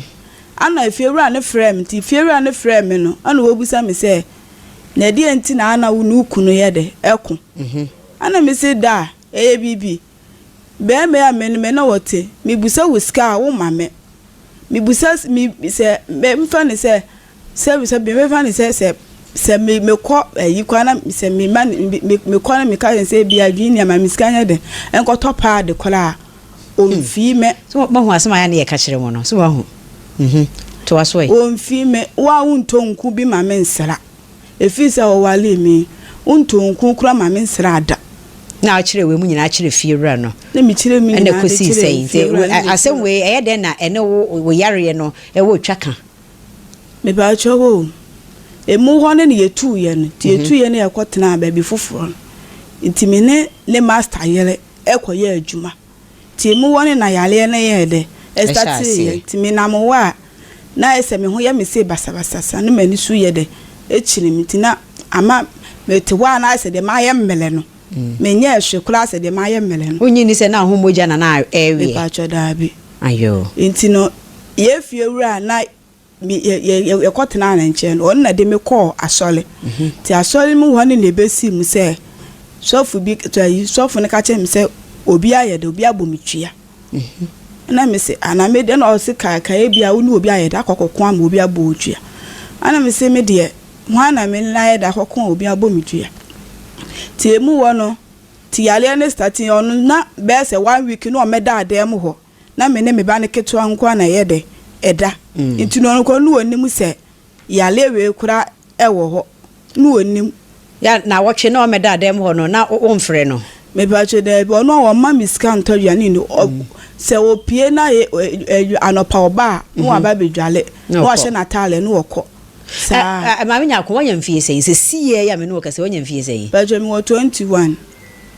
ɛna efiewura no frɛɛ me nti efiewura no frɛɛ me no ɛna ɔbisa me sɛ na ɛdeɛn nti na ana wo ne wo kunu yɛ dɛ ɛko ɛna mese da a Ɛyɛ biribi. Bɛɛma yi a me ne me na wɔte, mebusa wo sika a, wo ma me. Mebusa s me sɛ mɛ mfa no sɛ sɛ sɛ me mɛfa no sɛ sɛ sɛ me mekɔ ayi kɔ na sɛ me ma no me mekɔ na meka sɛ sɛ bia adwene ni ama me sika nyɛ den nkɔtɔ paade koraa a, Hmm. ɔmfi me. So wa- wahu asɛm a ɛyɛ a ne yɛka kyerɛ mo no? So wahu? Mhm. Toa so ɛ. Ɔmfi me. Wo a wontɔ nku bi ma me nsra. Ɛfiri sɛ ɔwaree me. Wontoo nko kora ma me nsraa da. Na ɔkyerɛɛ wei mu nyinaa kyerɛɛ fiewura no. Na mekyerɛɛ mu nyinaa de kyerɛɛ fiewura no. Asɛm wei, ɛyɛ dɛn na ɛne wo yareɛ no wɔ twa ka? Mepakyɛ wo o, ɛmu hɔ no na yɛtuu yɛn. Nti yɛtuu yɛn na yɛkɔtenaa baabi foforɔ no. Nti me ne ne masta yere kɔyɛɛ adwuma. Tse mu wɔ ne na yareɛ no yɛɛ dɛ starteeɛ nti me nam hɔ a na ayɛ sɛ me ho yɛ me see basabasasa ne m'ani so yɛ dɛ kyere me nti na ama me te hɔ a na ayɛ sɛ deɛ mayɛ mmrɛ no me nyɛɛ hwe koraa sɛ deɛ mayɛ mmrɛ no. Wonye ni sɛ na ho mogya na na ɛreweɛ? Mepaatwɔ daabi. Ayoo. Nti no yɛn fie wura a na Yɛkɔtenaa ne nkyɛn no, ɔno na de me kɔɔ asɔre. Nti asɔre mu hɔ ne na ɛbɛsii mu sɛ sɔfo bi, sɔfo no ka kyerɛɛ me sɛ obi ayɛ dɛ, obi abɔ me tua. Ɛna me se, ana me deɛ, ɛna ɔse ka ka ebi a wo ne obi ayɛ dɛ akɔkɔko ama obi abɔ wo tua. Ɛna me se me deɛ, hwan na me ne no ayɛ dɛ akɔko a obi abɔ me tua. Nti emu hɔ no, nti yareɛ no startee, ɔno na bɛyɛ sɛ one week na ɔmmɛdaa dan mu hɔ. na me ne me ba no ketewa nko ara na ɛyɛ dɛ ɛda. Nti no ɔnokorɔ no ɔnnim sɛ yareɛ wei koraa ɛwɔ hɔ. No ɔnnim. Ya nawɔtwe na ɔmɛda dɛm hɔ no na wo nfrɛ no. Mepakyɛ daabi ɔno a ɔmma me sika ntɔ aduane nni hɔ sɛ ɔpie na anɔpa ɔba a na waba abɛdwale na wahyɛ nataadeɛ na ɔkɔ saa. Maame Nyarko wanya mfie sɛn sɛsiɛ yi a me ne wo kasa wanya mfie sɛn? Pakyɛ mewɔ 21.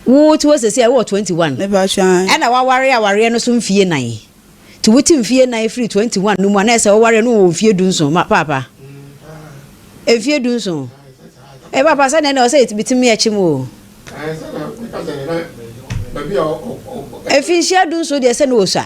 Wo te hɔ seesei a, wowɔ twenty one. Me ba hwɛ an. Ɛna waware awareɛ no so mfie nan. Nti wo te mfie nan firi twenty one no mu a na ɛsɛ wowareɛ no wɔ mfie du nson ma paapa. Mfie du nson. Ɛɛ paapa sɛ nɛɛ na ɔsɛ yɛ bitimi yɛ kyim oo. Ɛɛ sɛ na meka sɛ na baabi a ɔkɔ. Mfinhyia du nson deɛ sɛ na ɔsua.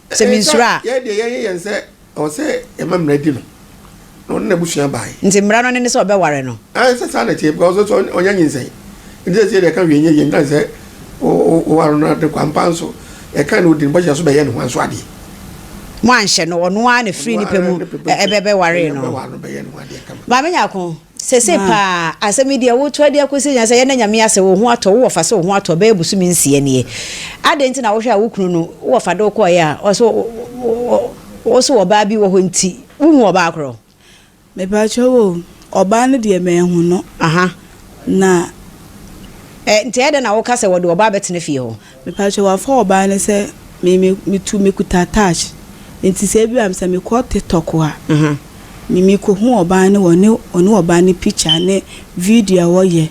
Sɛ minsuro a. Yɛn deɛ yɛn yɛ yɛn sɛ ɔwɔ sɛ yɛma mmara di no na ɔne n'abusua bae. Nti mmara no ne ne sɛ ɔbɛware no. Ae sɛ saa na ɛteɛ because ɔsɛ sɛ ɔnya nyinsɛn nti sɛ ɛsɛ deɛ ɛka hwee nyɛ yie ntan sɛ woware no ade kwa mpa nso ɛka na ɔdi no bɔhyɛ so bɛyɛ ne ho nso adeɛ. Mo anhyɛ no ɔno ara na firii ne pɛ mu ɛbɛwaree no. Maame Nyarko Sesei paa, asɛm yi deɛ wotoa de akosi nya sɛ yɛda Nyame ase wo ho atɔ wo wɔfa sɛ wo ho atɔ bɛyɛ bosome nsia nie adɛn nti na wohwɛ a wo kunu no wo wɔfa de wo kɔɔeɛ a ɔse wo so ɔbaa bi wɔ hɔ nti wo hu ɔbaa korɔ. Mepakyɛw o, ɔbaa no deɛ manhu no. Aha. Na. Ɛ, nti ɛyɛ dɛn na woka sɛ wɔde ɔbaa bɛtena fie hɔ? Mepakyɛw wafa ɔbaa no sɛ me me metu mekuta touch nti sɛ ebi a sɛ mekɔ tiktok a me mekohu ɔbaa no wɔ ne ɔne ɔbaa no picture ne video a wɔyɛ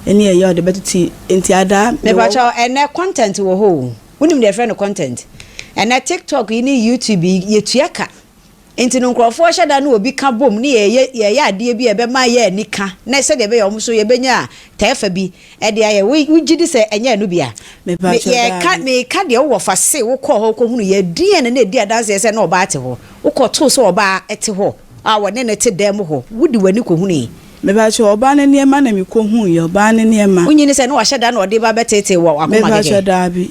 ɛne ɛyɛ a ɔde bɛtete nti adaa mewɔ hɔ. Mepakyɛw ɛnɛ content wɔ hɔ o wonim deɛ yɛfrɛ no content ɛnɛ tiktok yi ne youtube yi yɛtua ka. Enti no nkurɔfoɔ hyɛ da ne obi ka bom ne yɛyɛ yɛyɛ adeɛ bi a ɛbɛma yɛn ani ka na sɛdeɛ ɛbɛyɛ wɔn nso yɛbɛnya tɛɛfa bi de ayɛ. Wo wogye di sɛ ɛnyɛ ɛno bi a? Me Mepakyɛ yɛreka daabi. meka deɛ wowɔ fa se wokɔɔ hɔ kɔhunuiɛ a ɛdeɛn na na ɛdi adanseɛ sɛ na ɔbaa te hɔ? Wokɔtoo sɛ ɔbaa te hɔ a wɔne no te dan mu hɔ. Wode w'ani kɔhunuui. Mepakyɛ ɔbaa no nneɛma na mekɔhunuiɛ, ɔbaa no nneɛma. Wonyini sɛ na wahyɛ da na ɔde ba bɛteetee wɔ w'akoma kɛkɛ? Mepakyɛ daabi.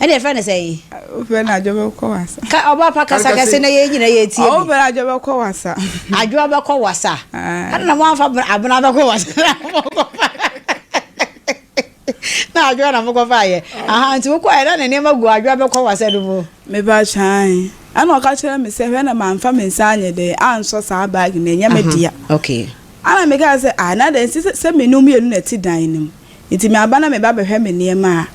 Ɛna ɛfrɛ no sɛn? Wofrɛ no adwo bɛkɔ wasa. Ka ɔba pa kasa kɛse na yɛn nyinaa yɛ tie bi. Wofrɛ no adwo bɛkɔ wasa. Adwo bɛkɔ wasa. Ɛna na moamfa abena bɛkɔ wasa na mokɔfa. Na adwo na mokɔfa yɛ. Aha nti wokɔ yɛ na ne nneɛma gu adwo bɛkɔ wasa no mu. Meba kyan. Ɛna ɔka kyerɛ me sɛ hwɛ na mamfa me nsa anyɛ dɛ ansɔ saa bag no ɛnyɛ me dea. Okay. Ɛna mekaa sɛ ah na dɛn sɛ sɛ me no mmienu na ɛte dan no mu. Enti maba na meba bɛhwɛ me nneɛma a,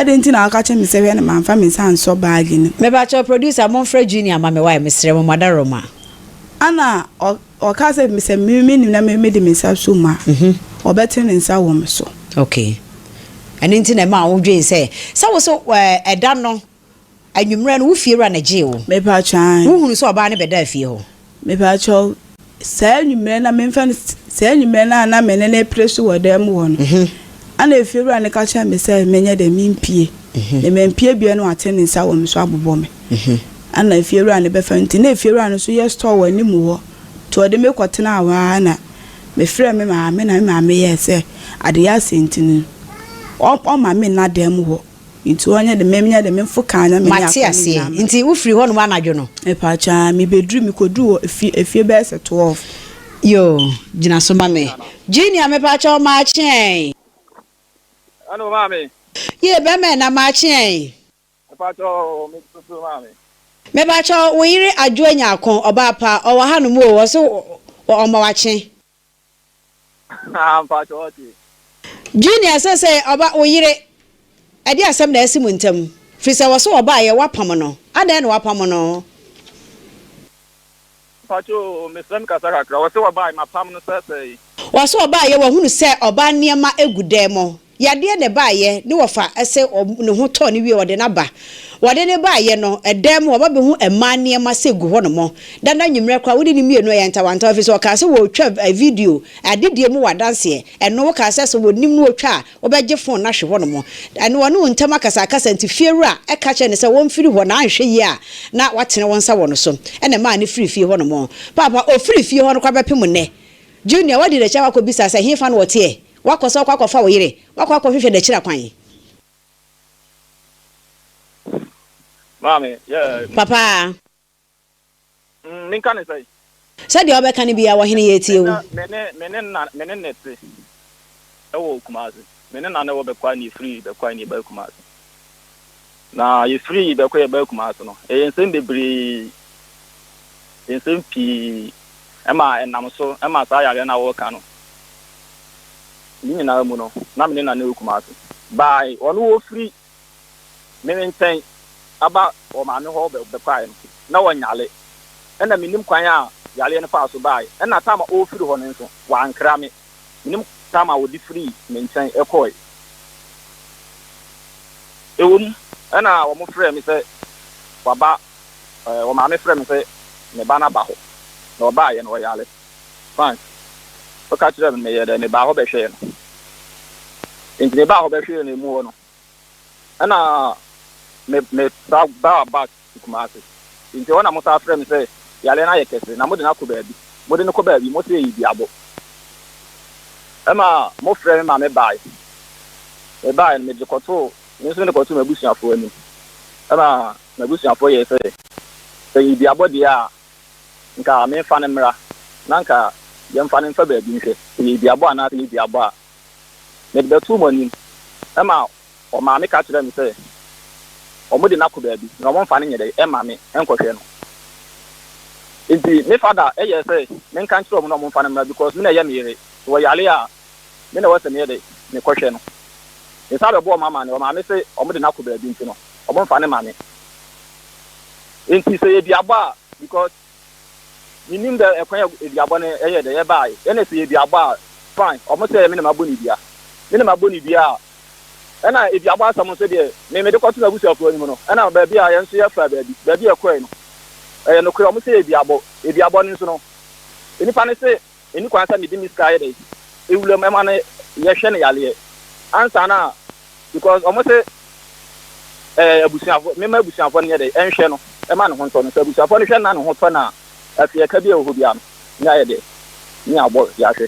adɛn nti na woaka kyerɛ me sɛ hwɛ na mamfa me nsa ansɔ baage no mu? Mepakyɛw producer monfrɛ Junior mma me wai mesrɛ mo madarooma. Ana ɔkaa sɛ sɛ me menim na me mede me nsa som a ɔbɛte ne nsa wɔ me so. Okay ɛno nti na ɛmaa wodwen sɛ sɛ wo so ɛda no Anwummerɛ no, wo fiewura na gyee wo. Mepatwɔ ae. Wohunuu sɛ ɔbaa no bɛdaa fie hɔ. Mepatwɔ, saa anwummerɛ no a memfa no saa anwummerɛ no a na me ne no repere so wɔ dan mu hɔ no, ɛna efiewura no ka kyerɛɛ me sɛ menyɛ dɛn, mempue. Na mampue bio na wate ne nsa wɔ me so abobɔ me. Ɛna efiewura no bɛfa nti na efiewura no nso yɛ store wɔ anim hɔ nti ɔde me kɔtenaa hɔ ara na mefrɛɛ me maame na me maame yɛɛ sɛ adeyɛ asɛe nti no ɔmma me nna dan mu hɔ. Nti ɔnyɛ de me menyɛ de me mfo kan na me ne akɔ ne nyinaa ma. Nti wo firi hɔ nom anadwo no. Mepakyɛ aa me bɛ duru me kɔ duru hɔ fie efie bɛyɛ sɛ twelve. Yoo gyina so ma me. Junior mepakyɛ wo maakye ɛn. Ɛna o maame. Yee bɛma ɛna maakye ɛn. Mepakyɛ wo me gyina so maame. Mepakyɛ wo wo yere adwoa nyako ɔbaa pa ɔwɔ ha nom oo ɔse ɔma wakye. Junior sɛsɛɛ ɔba wo yere ɛde asɛm na asi mo ntam firi sɛ ɔse ɔbaeɛ wapam no adɛn na wapam no. Ɔse ɔbaeɛ wahunu sɛ ɔbaa nneɛma gu dan mu Yadeɛ na ɛbaeɛ ne wɔfa ɛse ne ho tɔɔ no wie ɔde no aba wɔde no baeɛ no ɛdan mu ɔba bɛhu ɛmaa nneɛma sɛ gu hɔ nom dada anwummerɛ koraa wode no mmienu ɛyɛ ntawantawa ɛfiri sɛ ɔkaa sɛ wɔretwa video adedie mu wɔ adanseɛ ɛno wokaa sɛ sɛ wɔnim no wɔtwa a wobɛgye fon no ahwe hɔ nom ɛne ɔne wo ntam akasakasa nti fiewura ɛka kyerɛ no sɛ ɔmfiri hɔ na anhwɛ yie a na watene wo nsa wɔ no so ɛna ɛmaa no firii fie hɔ nom paapa ɔfirii fie hɔ no koraa bɛpem nnɛ Junior wadi n'akyi akɔ akɔbisa sɛ hefa na ɔteɛ Woakɔ sɛ wokɔ akɔfa wo yere. Woakɔ akɔhwehwɛ n'akyiri akwan. Maame, yeah, me. Papa. Mm, menka ne sɛn? Sɛ deɛ wobɛka no biara, ɔhene, yɛretie wo. Ɛnnɛ, me ne, me ne na, me ne ne te wɔ Kumasi. Me ne na na ɛwɔ Bɛkwae na yɛfiri Bɛkwae na yɛbae Kumasi. Na yɛfiri bɛkɔ yɛbaa Kumasi no, ɛyɛ nsɛm bebree, nsɛm pii ma ɛnam so ma saa yareɛ no a woreka no. Ne nyinaa mu no, na me ne Nana wɔ Kumasi. By ɔno ɔfiri me nkyɛn aba wɔn maame hɔ bɛkɔeɛ no, na ɔnyare. Ɛna mennim kwan a yareɛ no faa so baeɛ. Ɛna time a ɔrefiri hɔ no nso, wankra me. Menim koraa ma wɔde firii me nkyɛn kɔeɛ. Ɛwom, ɛnna wɔfrɛɛ me sɛ wɔaba, wɔn maame frɛɛ me sɛ me ba no aba hɔ, na ɔbaeɛ no, ɔyare. Frank, woka kyerɛɛ me no, meyɛɛ dɛn? Mebaa hɔ bɛhwɛɛ no. Enti mebaa hɔ bɛhwɛɛ no amu hɔ no. Ɛna me me sa baa back to Kumasi. Nti ɛhɔ na mo saa frɛ me sɛ yareɛ no ayɛ kɛse na mo de no akɔ baabi. Mo de no kɔ baabi mo se ɛyɛ duabɔ. Ɛma mo frɛ me ma me baeɛ. Me baeɛ no me de kɔtoo me nso me de kɔtoo m'abusuafoɔ anim. Ɛna m'abusuafoɔ yɛɛ sɛ sɛ ɛyɛ duabɔ deɛ a nka me nfa no mmra na nka yɛnfa no nfa baabi nhwɛ sɛ ɛyɛ duabɔ anaa sɛ ɛnyɛ duabɔ a. Mede bɛtoo mo anim. Ɛnna ɔmaame ka kyerɛɛ me sɛ, Wɔde no akɔ baabi, na wɔmfa no nyɛ dɛn mma me nkɔhwɛ no. Enti me fada yɛɛ sɛ menka nkyerɛ wɔn na wɔmfa no mmra because me na ɛyɛ me yere. Sɛ ɔyare a, me na ɛwɔ sɛ meyɛ dɛn? Mekɔhwɛ no. Mesan bɛbɔɔ wɔn amanneɛ, ɔmaame se wɔde no akɔ baabi nti no, wɔmfa no mma me. Enti sɛ yɛadi abɔ a, because. Minnim dɛ kwan a eduabɔ no yɛ dɛ yɛbae, nna sɛ yɛ duabɔ a, fine, ɔmo sɛ me na mabɔ no dua. Me na mabɔ no dua a, nna eduabɔ asɛm no so deɛ, me mede kɔto m'abusuafoɔ anim no, nna baabi a yɛn nso yɛfaa baabi, baabi a yɛkɔe no, ɛyɛ nokorɛ, ɔmo sɛ yɛ duabɔ. Eduabɔ no nso no, nnipa no se Menni kwan sɛ mede me sika yɛ dɛn ewura mu ɛma no yɛ hwɛ no yareɛ ansa no a because ɔmo se ɛɛ abusuafoɔ me ma abusuafoɔ no nyɛ dɛn ɛnhwɛ no ɛma ne ho ntɔ no sɛ abusuafoɔ no hwɛ no na ne ho tɔ no a afei ɛka bi a ɛwɔ hɔ biara no ne ayɛ dɛn ne abɔ de ahwɛ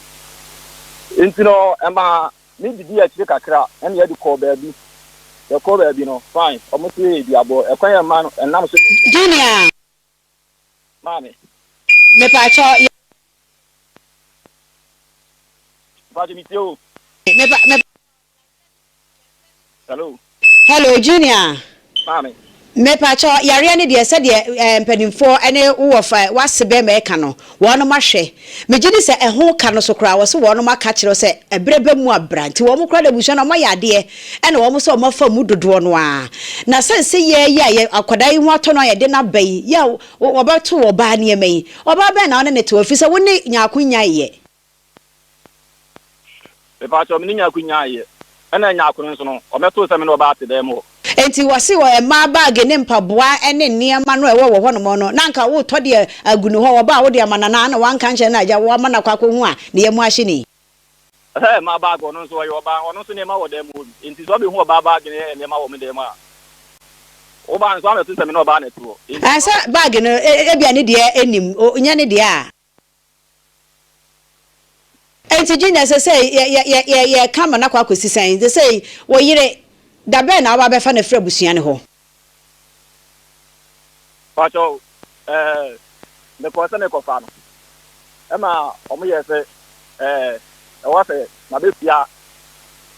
nti no ɛma me didi akyire kakra ɛne yɛde kɔɔ baabi yɛkɔɔ baabi no fine ɔmo se yɛ duabɔ ɛkwan a ɛma no ɛnam so. Junior. Maame. Mepakyɛ yɛ. Mepakyɛ me tie o. Mepa mepa. Hello. Hello junior. Maame. Mepakyɛ yareɛ ne deɛ sɛdeɛ ɛɛ mpanyinfoɔ ɛne wo wɔ fa wase bɛɛma ɛka no. Wɔnom ahwɛ. Megye di sɛ ɛho ka no so koraa wɔse wɔnom aka akyerɛ wo sɛ ɛberɛ ba mu a bra. Nti wɔnom koraa de abusua no wɔayɛ adeɛ ɛna wɔnom sɛ wɔnom afa mmu dodoɔ no ara. Na sɛ nse yɛɛ yi a yɛ akwadaa yi ho atɔ no a yɛde no aba yi, yɛ a wɔbɛto ɔbaa nneɛma yi, ɔbaa bɛn na wone no te hɔ? Ɛfiri sɛ wone Nyarko nnyaeɛ. Mepaatwɔ mene Nyarko nyaa ayɛ ɛna ɛnyɛ akono nso no ɔmɛtoo sɛ mene ɔbaa te dan mu hɔ. Enti wɔse wɔ ɛmaa baage ne mpaboa ɛne nneɛma no a ɛwɔ wɔ hɔnom no na anka wotɔ de agu no hɔ wɔba a wode ama no anaa na wanka nkyerɛ no a agya wama no akɔ akɔ hu a ne yam ahye no yi. Ɛhɛ ɛmaa baage ɔno nso ɔyɛ ɔbaa ɔno nso nneɛma wɔ dan mu hɔ bi enti sɛ ɔbɛhu ɔbaa baage ne nneɛma wɔ me dan mu a wobaa nso amɛto sɛ mene ɔbaa na ɛte hɔ enti. Ɛsɛ baage no ebia ne deɛ ɛnim nyɛ ne deɛ a. Enti Junior, ɛsɛ sɛ yɛ, yɛ, yɛ, yɛ, yɛka ma no akɔ akɔsi sɛn? Seesei, wo yere, da bɛn na woaba abɛfa no afiri abusua no hɔ? Pakyɛw, ɛɛ, mekɔɔ sɛ merekɔfa no, ɛnna wɔyɛɛ sɛ, ɛɛ, ɛwɔ sɛ mabetua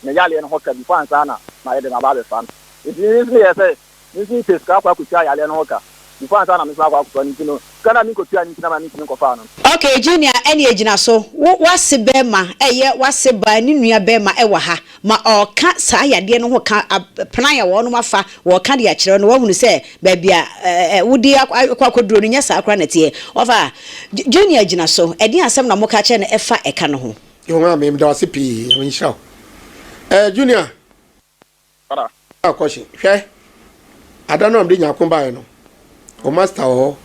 ne yareɛ no ho ka before ansa na mayɛ dɛn aba abɛfa no. Enti me nso meyɛɛ sɛ. Me nso metwaa sika kɔ akɔtua yareɛ no ho ka, before ansa na me nso akɔ akɔfa no nti no, sika no a menkɔtuae no nti na mentumi nkɔfaa no. Ok Junior ɛneɛ gyina so, wo w'ase bɛɛma ɛyɛ w'ase baa ne nua bɛɛma ɛwɔ ha ma ɔɔka saa yadeɛ no ho ka pran a wɔnom afa wɔɔka de akyerɛ wo no w'ahunu sɛ baabi a wode akɔ akɔduro no nyɛ saa koraa na ɛteɛ wafa Junior gyina so ɛdeɛn asɛm na moka kyerɛ no ɛfa ɛka no ho. Yohane meda wo ase pii, Nyame nhyira wo. Eh Junior Kɔda. Ɔbaa kɔhye. Hwɛ! Ada no a mede nyako baeɛ no, wo masta wɔ hɔ,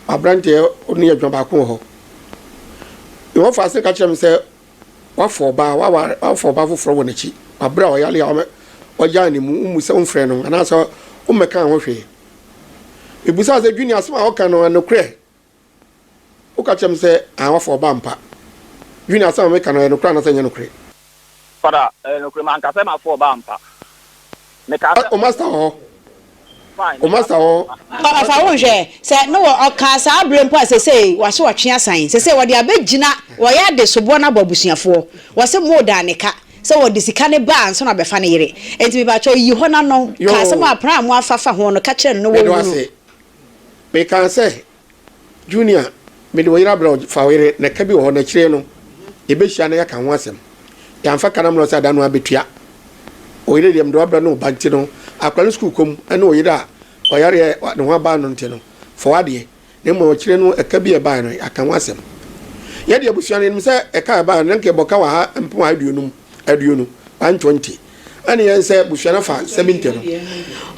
aberanteɛ ɔne adwuma baako wɔ hɔ. Yehofa asene ka kyerɛ me sɛ wafa ɔbaa, waware, wafa ɔbaa foforɔ wɔ n'akyi. Wabrɛ a ɔyare a ɔgyaa ne mu, wommu sɛ womfrɛ no anaasɛ wommɛkaa ho hwee. Mebusaa sɛ, Junie, asɛm a woka no, ɛnokorɛ? Woka kyerɛ me sɛ, Aane, woafa ɔba ampa. Dwene asɛm a mereka no, ɛyɛ nokorɛ anaasɛ ɛnyɛ nokorɛ? Fada, ɛyɛ nokorɛ. Manka sɛ mafa ɔba ampa. Mekaa sɛ. O Master wɔ hɔ. Fine, meka sɛ ɔba ampa. Fada, fa wo nhwɛ. Sɛ ne wɔ ɔkaa saa berɛ mpo a, sesei w'ase ɔtwe asan. Sesei wɔde abɛgyina wɔyɛ ade soboɔ no abɔ abusuafoɔ. Wɔse Mo daa ne ka sɛ wɔde sika no ba ansa na wɔbɛfa ne yere. Enti mepakyɛw yi hɔ na no ka asɛm a pran a mo afa fa ho no ka kyerɛ no na wɔnwu no. Meda wo ase. Mekaa sɛ, Junior, mede wo yere abrɛ wo, fa wo yere, na ka bi wɔ hɔ, na akyire no, yɛbɛhyia na yɛaka ho asɛm. Yɛamfa ka no ammrɛ wo sɛ ada no ara bɛtua. Wo yere deɛ, mede wo abrɛ ne wo ba nti no, akwadaa no sukuu kɔ mu ne wo yere a ɔyareɛ a ne ho aba no nti no, fa w'adeɛ, na mmom akyire no, ɛka bi a ɛbaeɛ no, yɛaka ho asɛm. Yɛn deɛ, abusua no, yɛnim sɛ ɛka a ɛbaeɛ no, na anka yɛbɔ ka wɔ ha mpem ahaduonum, aduonu, 120. ɛne yɛn sɛ busua no fa nsɛm ntam.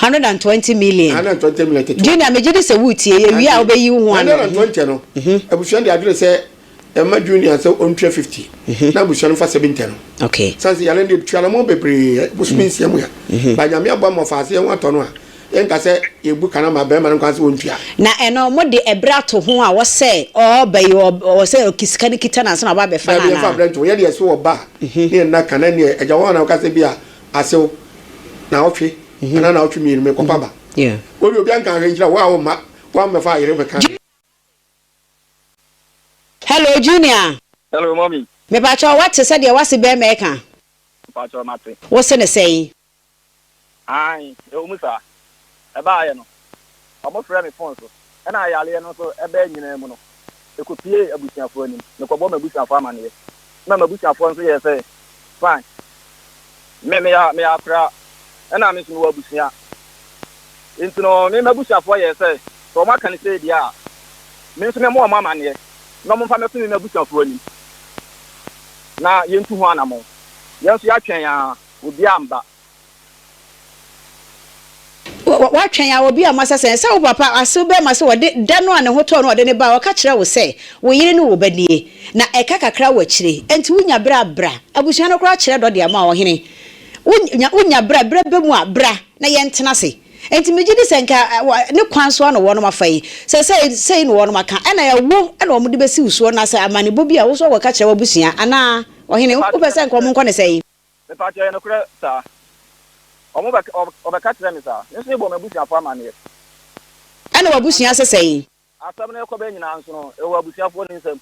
120 million. 120 million ketewa. Junior megye di sɛ wotie yɛ wie a wobɛyi wo ho ano. 120 no mhm. abusua de adwene sɛ ɛma junior sɛ ɔntua 50 mhm. na abusua no fa 70 no. okay. sane sɛ yɛne de tuanamɔ bebree bosomi mhm. nsia mu a ba nyame aboa ma ɔfa aseɛ ho atɔ no a Yɛnka sɛ yɛbu ka no ama barima no nkwa sɛ ɔntua. Na ɛno mode ɛberɛ ato ho a ɔsɛ ɔɔba yi ɔwɔ sɛ ɔki sika no kita no ansa na ɔba abɛfa no anaa? Daabi ɛmfa berɛ nto ho. Yɛdeɛ ɛso ɔba a mhm. ne ɛnna ka na ɛneɛ agya hɔ a na ɔkasa bi a asew na ɔtwe mhm. anaa na ɔtwe mmienu mekɔpa ba. Wode obi anka ahwɛ nkyerɛ wo a womma woammɛfa ayere bɛka. Hello Junior. Hello mommy. Mepakyɛ wate sɛdeɛ wase bɛrima ɛka? Mepakyɛ mate. Wose ne sɛn? Aane, ɛwɔ mu saa. Ɛbaeɛ no, wɔfrɛɛ me fon so, ɛna ayareɛ no nso baa nyinaa mu no, ɛkɔpuee abusuafoɔ anim. Mekɔbɔɔ m'abusuafoɔ amanneɛ, ɛna m'abusuafoɔ nso yɛɛ sɛ, Fine. Me, meyɛ, meyɛ akoraa, ɛna me nso mewɔ abusua. Enti no, me, m'abusuafoɔ yɛɛ sɛ, sɛ wɔaka no sei deɛ a, me nso memmɔ wɔn amanneɛ, na wɔmfa mmɛto me, m'abusuafoɔ anim, na yɛntu ho anammɔn. Yɛn nso, yɛatwɛn ara, Obi amba. Wɔatwɛn a, obi amma. Sɛsɛn sɛ wo papa asew bɛma sɛ ɔde da no a ne ho tɔɔ no a ɔde no bae. Ɔka kyerɛɛ wo sɛ wo yere ne wo ba nie, na ɛka kakra wɔ akyire yi. Enti wonya bere a, bra. Abusua no koraa kyerɛ dɔ de ama wo, ɔhene. Wonya, wonya bere a, bere aba mu a, bra na yɛntena ase. Enti megye di sɛ anka ne kwan so ara na wɔnom afa yi. Sɛ sei, sei na wɔnom aka. Ɛnna ɛyɛ wo na wɔde bɛsi wo soɔ, anaasɛ amanebɔ bi a wo nso woakɔka akyerɛ w'abusua anaa, ɔhene? Wopɛ sɛ anka wɔnkɔ no sɛn? Mepakyɛw, ɛyɛ nokorɛ saa? Wɔn bɛ, wɔbɛka kyerɛɛ me saa. Me nso mebɔɔ m'abusuafoɔ amanneɛ. Ɛna w'abusua ase sɛee. Asɛm no rekɔba nyinaa nso no, ɛwɔ abusuafoɔ no nsam.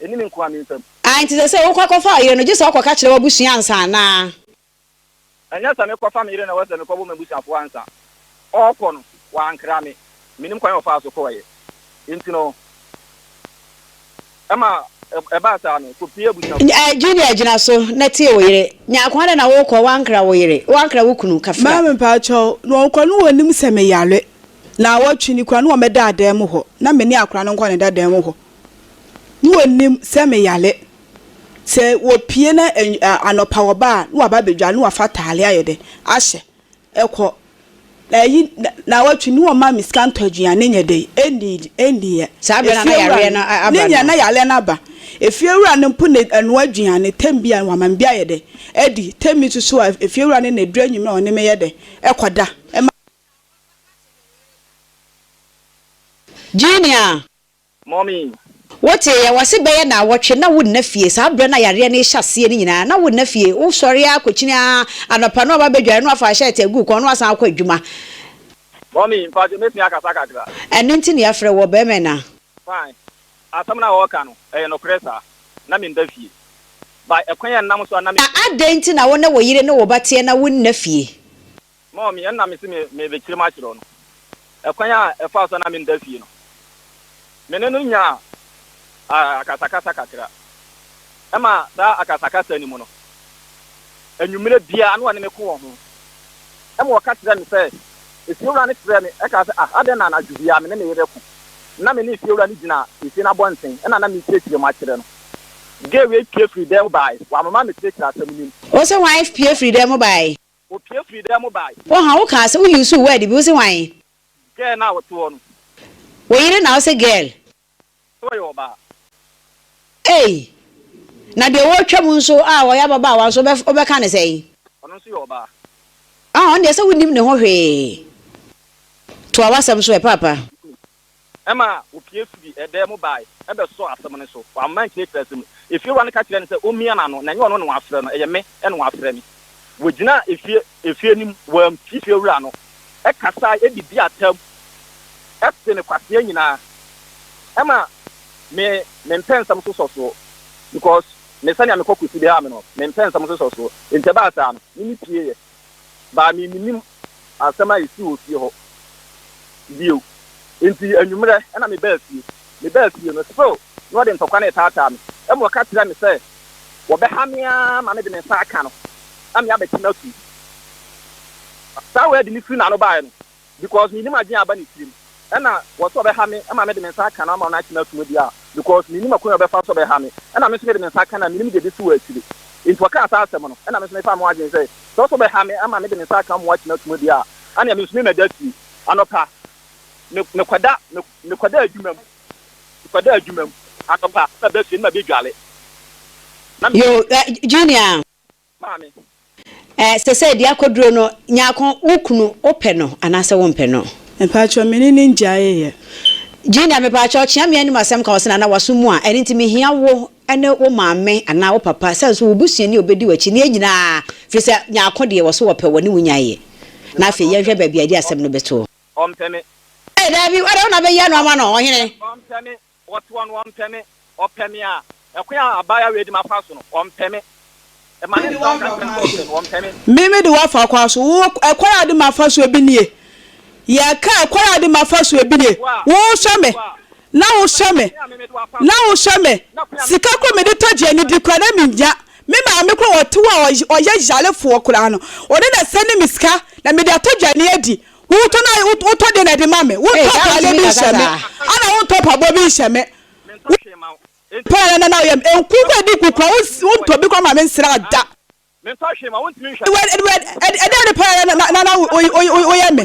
Ɛnni me nko ara me nsam. Ae, enti sɛ sɛ wokɔ akɔfa ɔyere no, gye sɛ wokɔka kyerɛ w'abusua ansa anaa? Ɛnyɛ sɛ mekɔfa me yere na ɛwɔ sɛ mekɔbɔ m'abusuafoɔ ansa. Ɔrekɔ no, wankra me. Minnim kwan a ɔfaa so kɔeɛ. Enti no, ɛma ɛbaa saa no, kɔpue abusuafoɔ no. Nya Julia gyina so na tie wo yere. Nya kwan dɛn na worekɔ? Woankra wo yere. Woankra wo kunu. Kafira. Maame, mpakyɛw, na ɔnkɔ no wɔnnim sɛ meyare. Naawɔtwe ni koraa, na wɔmmɛda adan mu hɔ na me ne akora no nkɔ ne dadan mu hɔ. Na wɔnnim sɛ meyare. Sɛ wɔpue na anɔpa wɔba a, na wɔaba abɛdware na wɔafa ataare ayɛ dɛn? Ahyɛ. Ɛkɔ. Na ɛyi naawɔtwe ne wɔma me sika ntɔ aduane ne nyɛ dɛn, ɛndiidi, ɛndiiɛ. Saa berɛ no a na yareɛ no aba no. Ne nyɛ na yareɛ no aba. Efiewura no mpo na ɛnoa aduane, tɛm bi a wɔama me bi ayɛ dɛn, adi, tɛm bi nso so a efiewura no na ɛduru anwummerɛ a ɔne me yɛ dɛn, ɛkɔ da. Ɛma. Gye nea. Mommy! Wote, yɛwɔ ase bɛyɛ naawɔtwe na wonna fie, saa berɛ no a yareɛ no rehyɛ aseɛ no nyinaa na wonna fie, wosɔre ara kɔkyini ara anɔpa no aba bɛdware na wafa shirt agu wo kɔn na wasan akɔ adwuma. Mommy, mpakyɛ mɛtumi akasa kakra? Ɛno nti na yɛafrɛ wo, ɔbarima yi na. Fine, asɛm no a wɔreka no, ɛyɛ nokorɛ saa, na mennda fie. But ɛkwan a ɛnam so a na me. Na adɛn nti na wo ne wo yere ne wo ba teɛ na wonna fie? Mom me ɛna mese me merebekyere mo akyerɛ no ɛkwan a ɛfaa so a na mennda fie no. Me ne no nyaa akasakasa kakra. Ɛma saa akasakasa no mu no, anwummere biara na ɔne me ko wɔ ho. Ɛma ɔka kyerɛɛ me sɛ, efiewura no kyerɛɛ me ɛkaa sɛ, ah adɛn na anadwo biara me ne ne yere ko. Na me ne efiewura no gyina efie no abɔnten ɛna na merekyerɛkyerɛ mu akyerɛ no. Gay wei pue firii dan mu bae, wamema mekyerɛkyerɛ asɛm no mu. Ose wife pue firii dan mu bae, Opue firii dan mu bae. Wo ha wo kaa sɛ wo usuu word bi wo se hwan? Girl no a ɔte hɔ no. Wo yere na wo se girl. Sɛ ɔyɛ ɔbaa. Ei! Na deɛ ɔretwa mu nso a ɔyɛ ababaawa nso wo bɛ ka no sɛn? Ɔno nso yɛ ɔbaa. Ɔno deɛ sɛ wo nim ne ho hwee. Toa w'asɛm so ɛ paapa. Ɛma opue firii ɛdan mu bae bɛsɔɔ asɛm no so. Wamma ankyerɛkyerɛ asɛm no. Efiewura no ka kyerɛɛ no sɛ ommia n'ano, na ɛnyɛ ɔno na wafrɛ no, ɛyɛ me na wafrɛ me. Wogyinaa efie efie no mu, wɔampue fiewura no, kasae de dii atam tee ne kwasea nyinaa. Ɛma me me mpɛnsɛm so sɔ so because me sɛnea me kɔkɔ si beha me no, me mpɛnsɛm so sɔ so. Enti ɛbaa saa no, me ne pieeɛ. baa me minnim asɛm a esii wɔ fie hɔ bio enti anwummerɛ na me baa fie me baa fie no still na ɔde ntɔkwa no retaataa me ɛma ɔka kyerɛɛ me sɛ wɔbɛha me ara ma me de me nsa aka no na me abɛte no atum saa word no firi n'ano baeɛ no because minnim adwene a aba ne tirim ɛna wɔse ɔbɛha me ma mede me nsa aka no ama no akye no atom deɛ a because mennim akwan a ɔbɛfa so ɔbɛha me ɛna me nso mede me nsa aka no a mennim deɛ ɛbɛsi wɔ akyire nti ɔkaa saa asɛm no ɛna me nso mefaa me ho adwene sɛ sɛ ɔse ɔbɛha me ma mede me nsa aka mmoa akye no atom deɛ a anea me nso me mɛda fie anɔpa me mekɔda me mekɔda adwuma mu mekɔda adwuma mu anɔpa na maba fie na mabɛdwale na me Yo, eh, Junior. maame. Eh, sɛsɛɛ di akoduro no, Nyarko, wo kunu, wo pɛ no anaasɛ wo mpɛ no? Mpakyɛw, me ne no ngyaee yɛ. Gina, mepakyɛw, kyea me anim asɛm ka wo sena na w'aso mu a, ɛno nti mehia wo ne wo maame anaa wo papa, sɛ nso wo busuani a obedi w'akyi ne yɛn nyinaa, firi sɛ Nyarko deɛ wɔse wɔpɛ wɔ ne wo nyae yɛ. Na afei yɛn hwɛ baabi a yɛde asɛm no bɛto. Ɔmpɛ me. Eh, daabi, wodeɛ wo na bɛyia no ama no, ɔhene. Ɔmpɛ me. Ɔtoa no, Ɔmpɛ me. Ɔpɛ me a, ɛkwan a abaayewa wei de me afa so no, Ɔmpɛ me. Ɛma ne nsa ɔka nsɛm sɛ Ɔpɛ me, Ɔmpɛ me. Me mede wo afa kwan so. Wo, ɛkwan a wode me afa so, ebi nie. Yɛka, ɛkwan a wode me afa so, ebi nie. Wohwɛ me, na wohwɛ me, na wohwɛ me. Sika koraa mede tɔ aduane di koraa, na mennya. Me maame koraa, ɔte hɔ a, ɔyɛ yarefoɔ koraa no, ɔno na ɛsɛne me sika, na mede atɔ aduane adi. Wotɔ na wotɔ de na de ma me. Wotɔ atade bi hyɛ me. Ana wotɔ pabɔ bi hyɛ me. Wotɔ yɛn na na oyɛ me. Nkuku edi kukura wotɔ bi kura ma me nsira da. Ɛdɛ ne paa na na oyɛ me.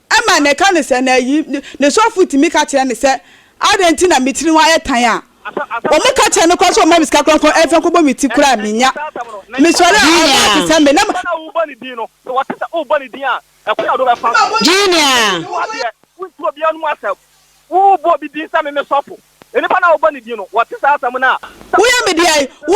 Ɛma ne ka no sɛ, na ayi, ne sɔfo tumi ka kyerɛ no sɛ, Adɛn nti na me tiri ho ayɛ tan a? Wɔka kyerɛ no koraa sɛ ɔmma me sika kronkron ɛmfa nkɔbɔ me ti koraa a, minnya. Mesɔre a, ɔbaa a te sɛ me na. Junior. Woyɛ me deɛn? Wo.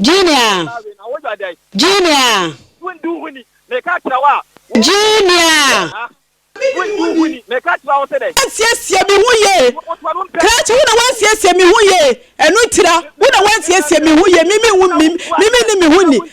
Junior! Junior! Junior! Ansiesie me ho yie krakyɛ wo na wansiesie me ho yie ɛno ntira wo na wansiesie me ho yie mimi wo mimi ne me ho ni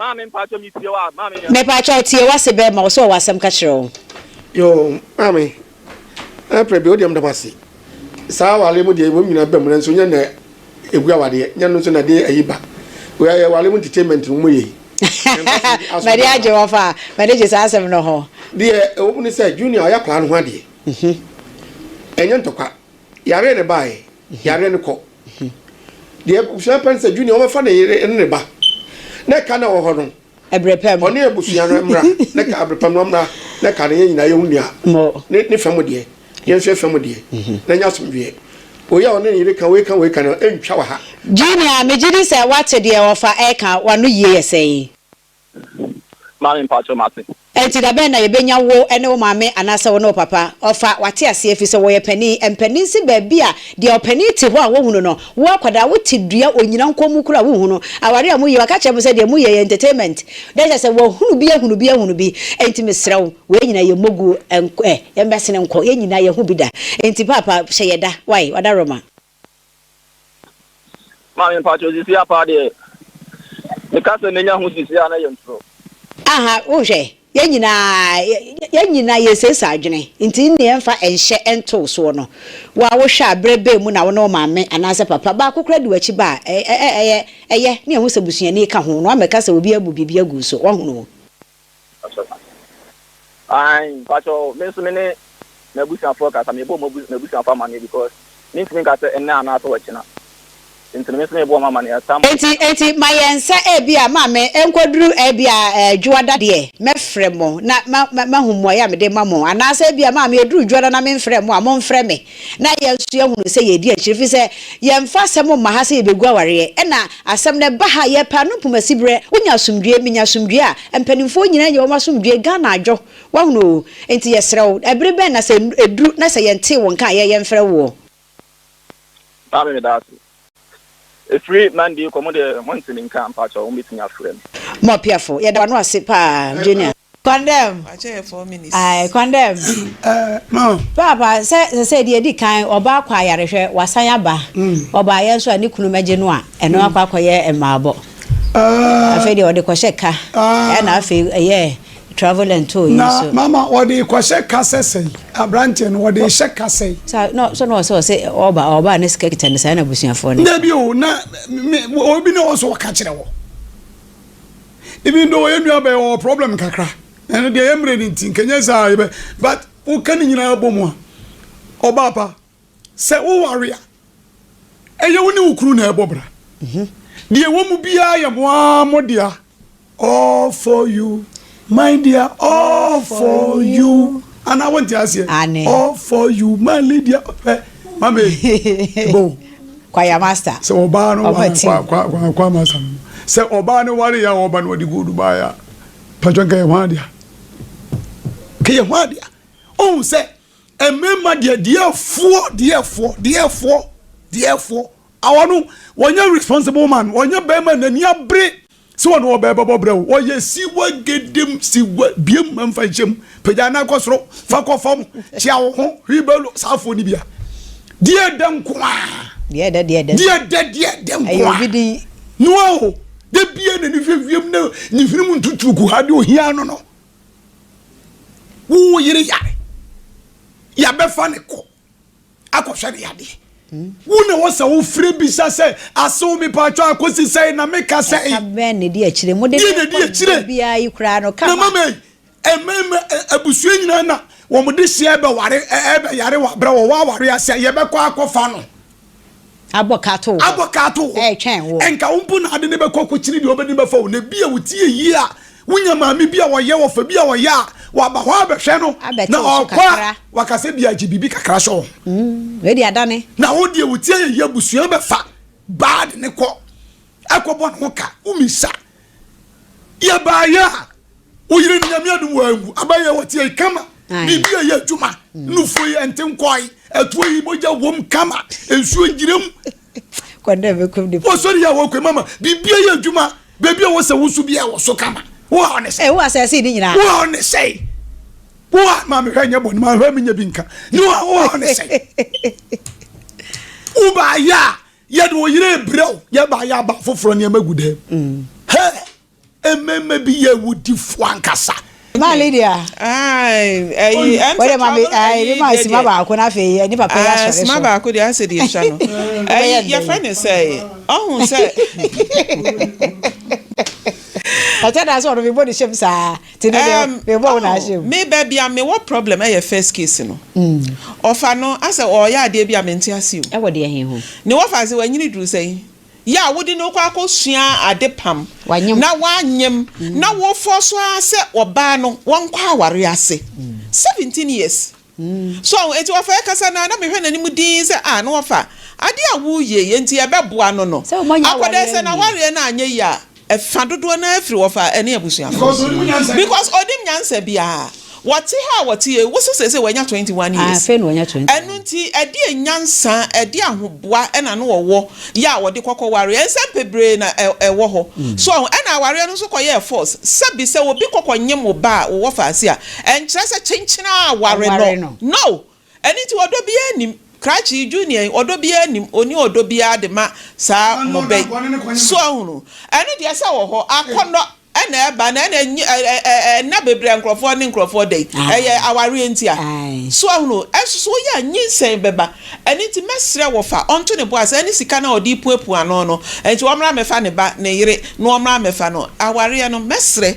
Maame mpakyɛ me tie wo a maame yɛ. Mepakyɛw tie wase bɛ ma wo so wɔ asɛm ka kyerɛ wo. Yoo maame ɛprɛ bi wodeɛ medawase saa awareɛ mu deɛ wom nyina bam nanso nyɛ na ɛgu awareɛ nyɛ no nso na ɛde ayi ba wei yɛ awareɛ mu entertainment no mu yei mɛde agye wɔ fa mɛde gye saa asɛm no ho deɛ ɛwɔ mu ne sɛ junior ɔyɛ akwaraa no ho adeɛ ɛnyɛ ntɔkwa yare ne baɛ Yare no kɔ. Deɛ abusua pɛ no sɛ Junior ɔbɛfa ne yere ne ne ba na ɛka na wɔ hɔ no. Ɛbrɛpɛm. Ɔne abusua no mmra na ɛka ɛbrɛpɛm no mmra na ɛka na yɛn nyinaa yɛhu nea ne ne fam deɛ yɛn nso yɛn fam deɛ na nya asomdweɛ. Wei a ɔne ne yere ka wei ka wei ka no ɛntwa wɔ ha. Junior megye di sɛ wate deɛ ɔfa ɛka wano yie yɛ sɛn. Maame mpakyɛw mate. Enti da bɛn na yɛbɛnya wo ne wo maame anaasɛ wo ne wo papa? Ɔfa, Wate aseɛ, ɛfiri sɛ wɔyɛ panin. Mpanin se baabi a deɛ ɔpanin te hɔ a wɔhu no no, wo akwadaa wote dua onyina nkɔn mu koraa a wonhu no. Awareɛ a moyɛ, waka kyerɛ mo sɛ deɛ moyɛ yɛ entertainment. Na kyerɛ sɛ wahunu bi ahunu bi ahunu bi. Enti mesrɛ wo, wei nyinaa yɛ mmoguo, ɛnkɔ ɛ, yɛmmɛsene nkɔ, yɛn nyinaa yɛnhu bi da. Enti paapa hyɛ yɛ da, wae, wadaroma. Maame mpakyɛw sisi a paa deɛ meka sɛ menya ho sisi a na yɛ ntoro. Aha wohwɛ yɛn nyinaa yɛn nyinaa yɛ sesa adwene nti nne yɛn fa nhyɛ ntow soɔ no wo a wohwɛ a berɛ bɛn mu na wo ne wo maame anaasɛ papa baako koraa di wakyi ba a ɛyɛ ɛyɛ ne yɛn ho sɛ busuani ka ho na wamɛka sɛ obi abu biribi agu so wahunu. Mpakyɛw ma me ae mpakyɛw me nso me ne m'abusuafoɔ kasa mebɔ m'abusuafoɔ amaneɛ because me ntumi nka sɛ ɛnnɛ anaa sɛ ɔkyena nti no me nso mebɔ wɔn amaneɛ at some. Enti enti ma yɛn nsa ebi a ma me nkɔduru ebi a ɛɛ dwoada deɛ mɛfrɛ mo na ma ma mahu mmuaeɛ a mede ma mo anaasɛ ebi a ma me ɛduru dwoada na menfrɛ mo a monfrɛ me na yɛn nso yɛahunu sɛ yɛredi akyire ɛfiri sɛ yɛmfa asɛm mma ha sɛ yɛbɛgu awareɛ ɛna asɛm no ɛba ha yɛpɛ ano mpoma siberɛ wonya asomdwoeɛ menya asomdwoeɛ a mpanimfoɔ nyinaa nya wɔn asomdwoeɛ Ghana adwo woahunu oo enti yɛsrɛ wo ɛbere bɛn na sɛ ɛduru na sɛ yɛntee wo nka a yɛn yɛmfrɛ woɔ. Maame meda wo ase. Ɛfiri Monday kɔ mo deɛ mo nte me nka mpakyɛw mo bɛtumi afrɛ me. Mo apiafo yɛda wano ase paa junior. Kwan dɛm ae kwan dɛm paapa sɛ sɛsɛɛ deɛ ɛdi kan ɔbaa akɔ ayare hwɛ wasan aba ɔbaayɛ nso a ne kunu mɛgye no a ɛno akɔ akɔyɛ mmaabɔ afei deɛ ɔde kɔhyɛ ka ɛna afei ɛyɛ Travel and tour yi Na nso. mama wɔde rekɔhyɛ kasɛ sɛn? Aberanteɛ no wɔde rehyɛ kasɛ. Sa na sɛ na ɔsɛ ɔsɛ ɔba a ɔba a ne sika kita ne saa na abusuafoɔ no. Dabi o, na me me obi na ɔwɔ sɛ ɔka kyerɛ wɔ. Even though yɛn nua bɛyɛ ɔwɔ problem kakra, ɛno deɛ yɛn mmerɛ no nti nka ɛnyɛ saa a yɛbɛ but woka ne nyinaa bɔ mu a, ɔbaa pa. Sɛ woware a, ɛyɛ wo ne wo kunu na ɛbɔ bra. Deɛ ɛwɔ mu biara yɛ mo ara mo dea. All for you, my dear, all for you. Anaa wonte aseɛ? Aane. All for you, my lady, hwɛ mame ɛbɔ o. Kwaya master. Sɛ ɔbaa no ware kwaya kwaya master no. Sɛ ɔbaa no ware a ɔba no ɔde gold baa ya. Patwa nka yɛ hwan dea. Nka yɛ hwan dea. Ohun sɛ. Mmarima deɛ deɛfoɔ deɛfoɔ deɛfoɔ deɛfoɔ awɔ no wɔnyɛ responsible man wɔnyɛ bɛrima n'ani abere sɛ wɔn ɔbɛɛ bɛbɔ brɛ wo wɔyɛ siwa gedem siwa biem mfa nhyɛm pagya nan kɔ soro fa kɔ fam kyea wo ho hwibɛlo saafoɔ no bia deɛ dɛ nko a deɛ dɛ deɛ dɛ deɛ dɛ deɛ dɛ nko a obi din noa o da bia n'ani hwɛ wiem na ne hwenem ntutuo kuhade ohia no no wo yere yare yɛbɛfa ne kɔ akɔhwɛ ne yadeɛ wo na wɔ sɛ wofiri bisa sɛ asew me paatwa akɔsi sɛ na meka sɛ bɛn na di akyire mode biara yi koraa no kama mama abusua nyinaa na wɔn de hyɛ ɛbɛware ɛbɛyare wɔ abrɛ wɔ wɔaware ase a yɛbɛkɔ akɔfa no Abɔ ka ato wo hɔ. Abɔ ka ato wo hɔ. Ɛretwɛn wo. Ɛnka wo mpo na ade no bɛkɔ akɔkyini deɛ ɔbɛdi bɛfa wo. Na ebia wotie ayie a, wonya maame bi a ɔyɛ ɔfa bi a ɔyɛ a, waba hɔ abɛhwɛ no. Abɛte wo so kakra. Na ɔkɔ a, waka sɛ bia gye biribi kakra hyɛ wo ho. Wei deɛ adane. Na wo deɛ wotie ayie abusua bɛfa bad no kɔ akɔbɔ ne ho ka. Womisa Yɛ baayɛ a wo yere no nyame adum wanwu aba yɛ wɔte yi kama biribi a yɛ adwuma mm. nufo yi ɛnte nkɔe ɛtoɔ yi mogya wɔm kama nsuo ngyina mu wɔsɔre yɛ a wɔkɔ mama biribi a yɛ adwuma baabi a wɔsɛ wo so bi a wɔ so kama wo a ɔne sɛ wo a sɛse ne nyinaa wo a ɔne sɛ wo a maame hwɛ nyɛ bɔne maame hwɛ menyɛ bi nka ne wo a wo a ɔne sɛ wo baayɛ a Yɛde wo yere rebrɛ wo, yɛ baayɛ aba afoforɔ nneɛma gu dɛm. Hɛ! Mmarima bi yɛ awudifoɔ ankasa. Maa Lydia. Ayi, ɛnfɛ ma mi ayi mi maa sima baako na afei ɛni papa yɛ asɔre so. Sima baako de asɛ de etwa no. Ɛyi yɛfɛ ne sɛ ɔhun sɛ. Ɛkyɛ da sɛ ɔno mi bɔ ne hyɛm saa. Erm me ba bi a me wɔ problem ɛyɛ first case no ɔfa no asɛ ɔyɛ adeɛ bi a me nte ase o. Ɛwɔ deɛ he ho? Ne wɔfa se wanyini duru sɛn? Yɛ a wode no kɔ akɔ sua ade pam na wanyem na wo force ara sɛ ɔbaa no wɔnkɔ aware ase 17 years. So ahu? Enti wɔfɛe kasa no ara, na mehwɛ n'anim dinn sɛ, Ah, na wɔfa ade a woyɛe enti yɛbɛboa no no akɔdɛɛ sɛ n'awareɛ no anyɛ yie a, ɛfa dodoɔ no ara firi wɔfa ɛne abusuafoɔ no. Because ɔnim nyansa biara. Wɔte ha a wɔte yi, wo so seesei wanya twenty one years. Ɛno nti, ɛdeɛn nyansa, ɛdeɛn ahoboa na na ɔwɔ yɛ a ɔde kɔkɔ wareɛ? Nsɛm bebree na ɛwɔ hɔ. So ahu? Ɛnna awareɛ no nso kɔyɛɛ force. Sɛbi sɛ obi kɔ kɔnyem wo ba a, wo wɔfa ase a, Ɛnkyerɛ sɛ kyenkyen a ware no. No! Ɛno nti ɔdɔ biara nnim. Krakye, Junior yi, ɔdɔ biara nnim. Ɔnni ɔdɔ biara de ma saa mmɔbɛ yi. So ahunu? Ɛno deɛ sɛ wɔ hɔ. Akɔnnɔ na ɛba na ɛna nyi ɛ ɛ ɛ ɛ nna bebree a nkurɔfoɔ ne nkurɔfoɔ da yi, ɛyɛ awareɛ nti a. So ahunu? Ɛnso so woyɛ a, nyinsɛn bɛba. Ɛno nti mɛsrɛ wo fa ɔnto ne bo ase. Ɛne sika no a ɔde repuapua ano no nti, ɔmmra mmɛfa ne ba, ne yere, na wɔmmra mmɛfa no. Awareɛ no, mɛsrɛ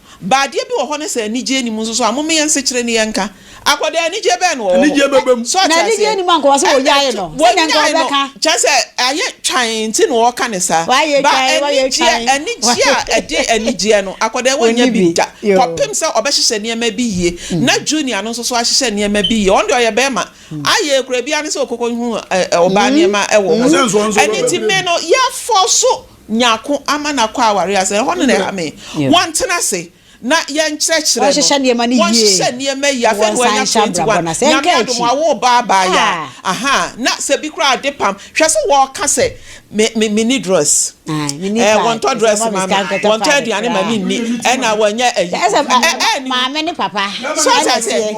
Ba adeɛ bi wɔ hɔ ne sɛ anigyeɛ nni mu nso so a, mome yɛ nsekyere ne yɛnka. Akwadaa anigyeɛ bɛn na ɔwɔ hɔ? Anigyeɛ bɛba mu. So ate aseɛ? Na anigyeɛ nni mu anka ɔse wɔnyae no. Sɛdeɛ anka Wɔnyae no, ɔbɛka. kyerɛ sɛ ayɛ twann nti na ɔreka no saa. Wayɛ Ba twann, wayɛ anigyeɛ, twann. anigyeɛ a Wayɛ- ɛde anigyeɛ no, akwadaa yi wɔnnya Ɔnni bi bi. da. Yoo. Kɔpem sɛ ɔbɛhyehyɛ nneɛma bi yie, na Junior no nso so ahyehyɛ nneɛma bi yie. Ɔno deɛ ɔyɛ bɛrima. Ayɛ kura biara ne sɛ ɔkɔkɔhu ɛ, ɛ, ɔbaa nneɛma wɔ hɔ. Ɛsɛ nso ɔno nso Ɛno nti, ɔbɛbrɛ me mu. no, yɛafɔɔso nyako ama no akɔ aware ase. Ɛhɔ no na ɛha me. Wɔntena ase na yɛnkyerɛkyerɛ no. Wɔnhyehyɛ nneɛma no yie. Wɔnhyehyɛ nneɛma yie. Afei na wanya twenty one. Nyame adom a wo ba abaayewa. Ahaa na sɛ bi koraa ade pam. Hwɛ sɛ wɔka sɛ me me me ni dress. Ɛɛ wɔntɔ dress ma me. Wɔntɔ aduane ma me nni. Ɛna wɔnyɛ ɛyi. Ɛɛ ɛɛ. Maame ne papa. So ɔte aseɛ.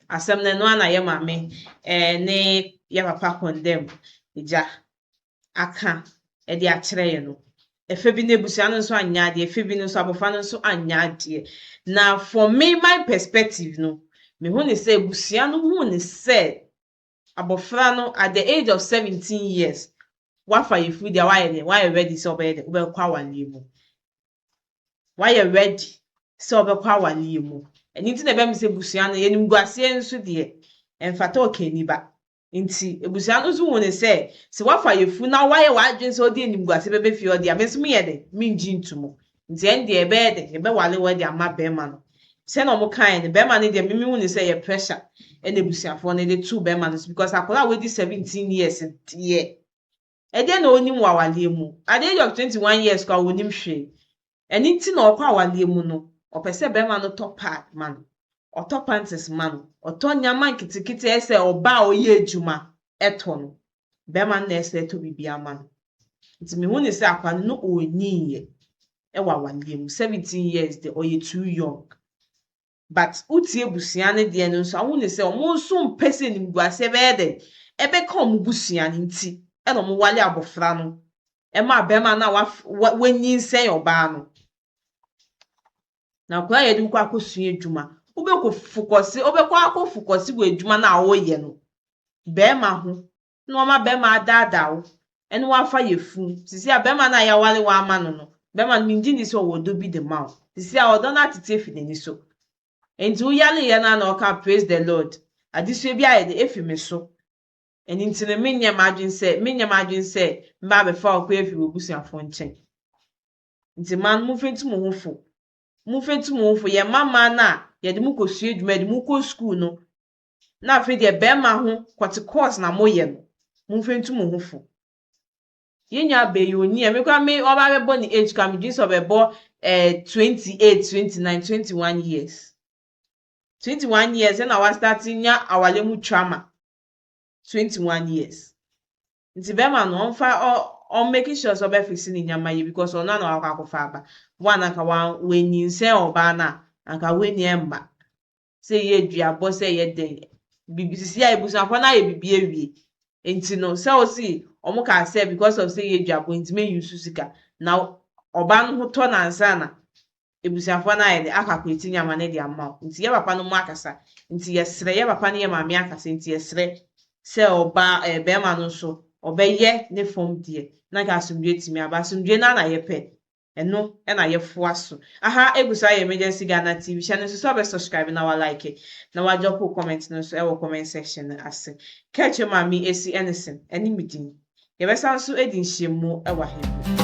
Asɛm no ɛno ara na yɛ maame ne yɛ papa kɔndɛm agya aka de akyerɛ yɛ no. Ɛfɛ bi no abusua no nso anyɛ adeɛ, ɛfɛ bi no nso abɔfra no nso anyɛ adeɛ. Na for me my perspective no, me hu ne sɛ abusua no hu ne sɛ abɔfra no at the age of 17 years, wafa yɛfiri deɛ wayɛ deɛ wayɛ ready sɛ ɔbɛyɛ deɛ ɔbɛkɔ awareɛ mu. wayɛ ready sɛ ɔbɛkɔ awareɛ mu. Ɛno nti na ɛbɛyɛ me sɛ abusua no, animguaseɛ nso deɛ, ɛmfata ɔkani ba. Nti abusua no nso hu no sɛ, sɛ woafa yafunu na woayɛ w'adwene sɛ wode animguaseɛ bɛba fie hɔ deɛ a, me nso menyɛ dɛn? Mengye nto mu. Nti ɛnde yɛbɛyɛ dɛn? Yɛbɛware wo de ama barima no. Sɛdeɛ wɔkaeɛ no, barima no deɛ, me mehu no sɛ ɛyɛ pressure na abusuafoɔ no de too barima no so because akwadaa a wadi seventeen years deɛ, Ɛdeɛn na ɔnim wɔ awareɛ mu? Adeɛ yɛ ɔpɛ twenty one years koraa ɔnim hwee. Ɛno nti na ɔkɔ awareɛ mu no, ɔpɛ sɛ barima no tɔ pad ma no, ɔtɔ panties ma no, ɔtɔ nneɛma nketenkete a ɛyɛ sɛ ɔbaa a ɔyɛ adwuma tɔ no. Barima no na ɛsɛ sɛ ɛtɔ biribiara ma no. Nti mehu no sɛ akwadaa no na ɔnyiiɛ wɔ awareɛ mu. Seventeen years deɛ, ɔyɛ too young. But wotie abusua no deɛ no nso a wohu no sɛ wɔn nso mpɛ sɛ animguaseɛ bɛyɛ dɛn? Ɛbɛka wɔn busua no nti na wɔn wale abɔfra no ma barima no a waf wa wanyinsɛn ɔbaa no. Na akwadaa a yɛde wo kɔ akɔsua adwuma wobɛkɔ fokɔse wobɛkɔ akɔ fokɔse wɔ adwuma no a woyɛ no barima ho na wɔama bɛrima adaadaa wo ne wo afa yafunu. Seesei a bɛrima no a yɛaware wo ama no no, bɛrima no, migye nni sɛ ɔwɔ ɔdɔ bi de ma wo. Seesei a ɔdɔ no atete afi n'ani so. Enti woyareeɛ no ara na ɔkaa Praise the Lord, adesoa bi ayɛ dɛ afi me so. Ɛno nti no, menyɛ m'adwene sɛ, menyɛ m'adwene sɛ mɛba abɛfa wo koraa afiri w'abusuafoɔ nkyɛn. Enti mmaa no, momfa ntu mo ho fo. Momfa ntu mo ho fo. Yɛmma mmaa no a yɛde mo kɔsua adwuma, yɛde mo kɔ sukuu no, na afei deɛ bɛrima ho kɔte course na moyɛ no momfa ntu mo ho fo yɛn nua bɛyɛ onyi a me kora me ɔba bɛbɔ ne age kora medwene sɛ ɔbɛbɔ eh, 28 29 21 years 21 years ɛna wastate nya awale mu trauma 21 years nti bɛrima no ɔmfa ɔ ɔm making sure sɛ ɔbɛfese ne nyama yie because ɔno ana wakɔ akɔfa aba wo ananka wanyinsɛn ɔbaa no a anka w'ani ɛmma sɛ yedua bɔ sɛ yɛ dɛ biribi sisi a ebusuafo no ayɛ biribi awie nti no sɛ ɔsi wɔn kaa sɛ because of sɛ yedua bɔ nti me use sika na ɔbaa no ho tɔ no ansa na ebusuafo no ayɛ dɛ akɔ akɔɛti nneɛma no de ama wo nti yɛ papa no mo akasa nti yɛsrɛ yɛ papa ne yɛ maame akasa nti yɛsrɛ sɛ ɔbaa ɛɛ bɛrima no nso ɔbɛyɛ ne fam deɛ na nka asomdue atumi aba asomdue no ara na yɛpɛ. Ɛno na yɛfoa so. Aha egu so ayɛ Emergency Ghana TV. Hyɛ no nso sɛ wobɛ subscribe na wa like na wa drop wo comment no nso wɔ comment section no ase. Kɛkyɛ mu a me Esi Ennison ɛne me din. Yɛbɛsan nso adi nhyiamu wɔ aha bio.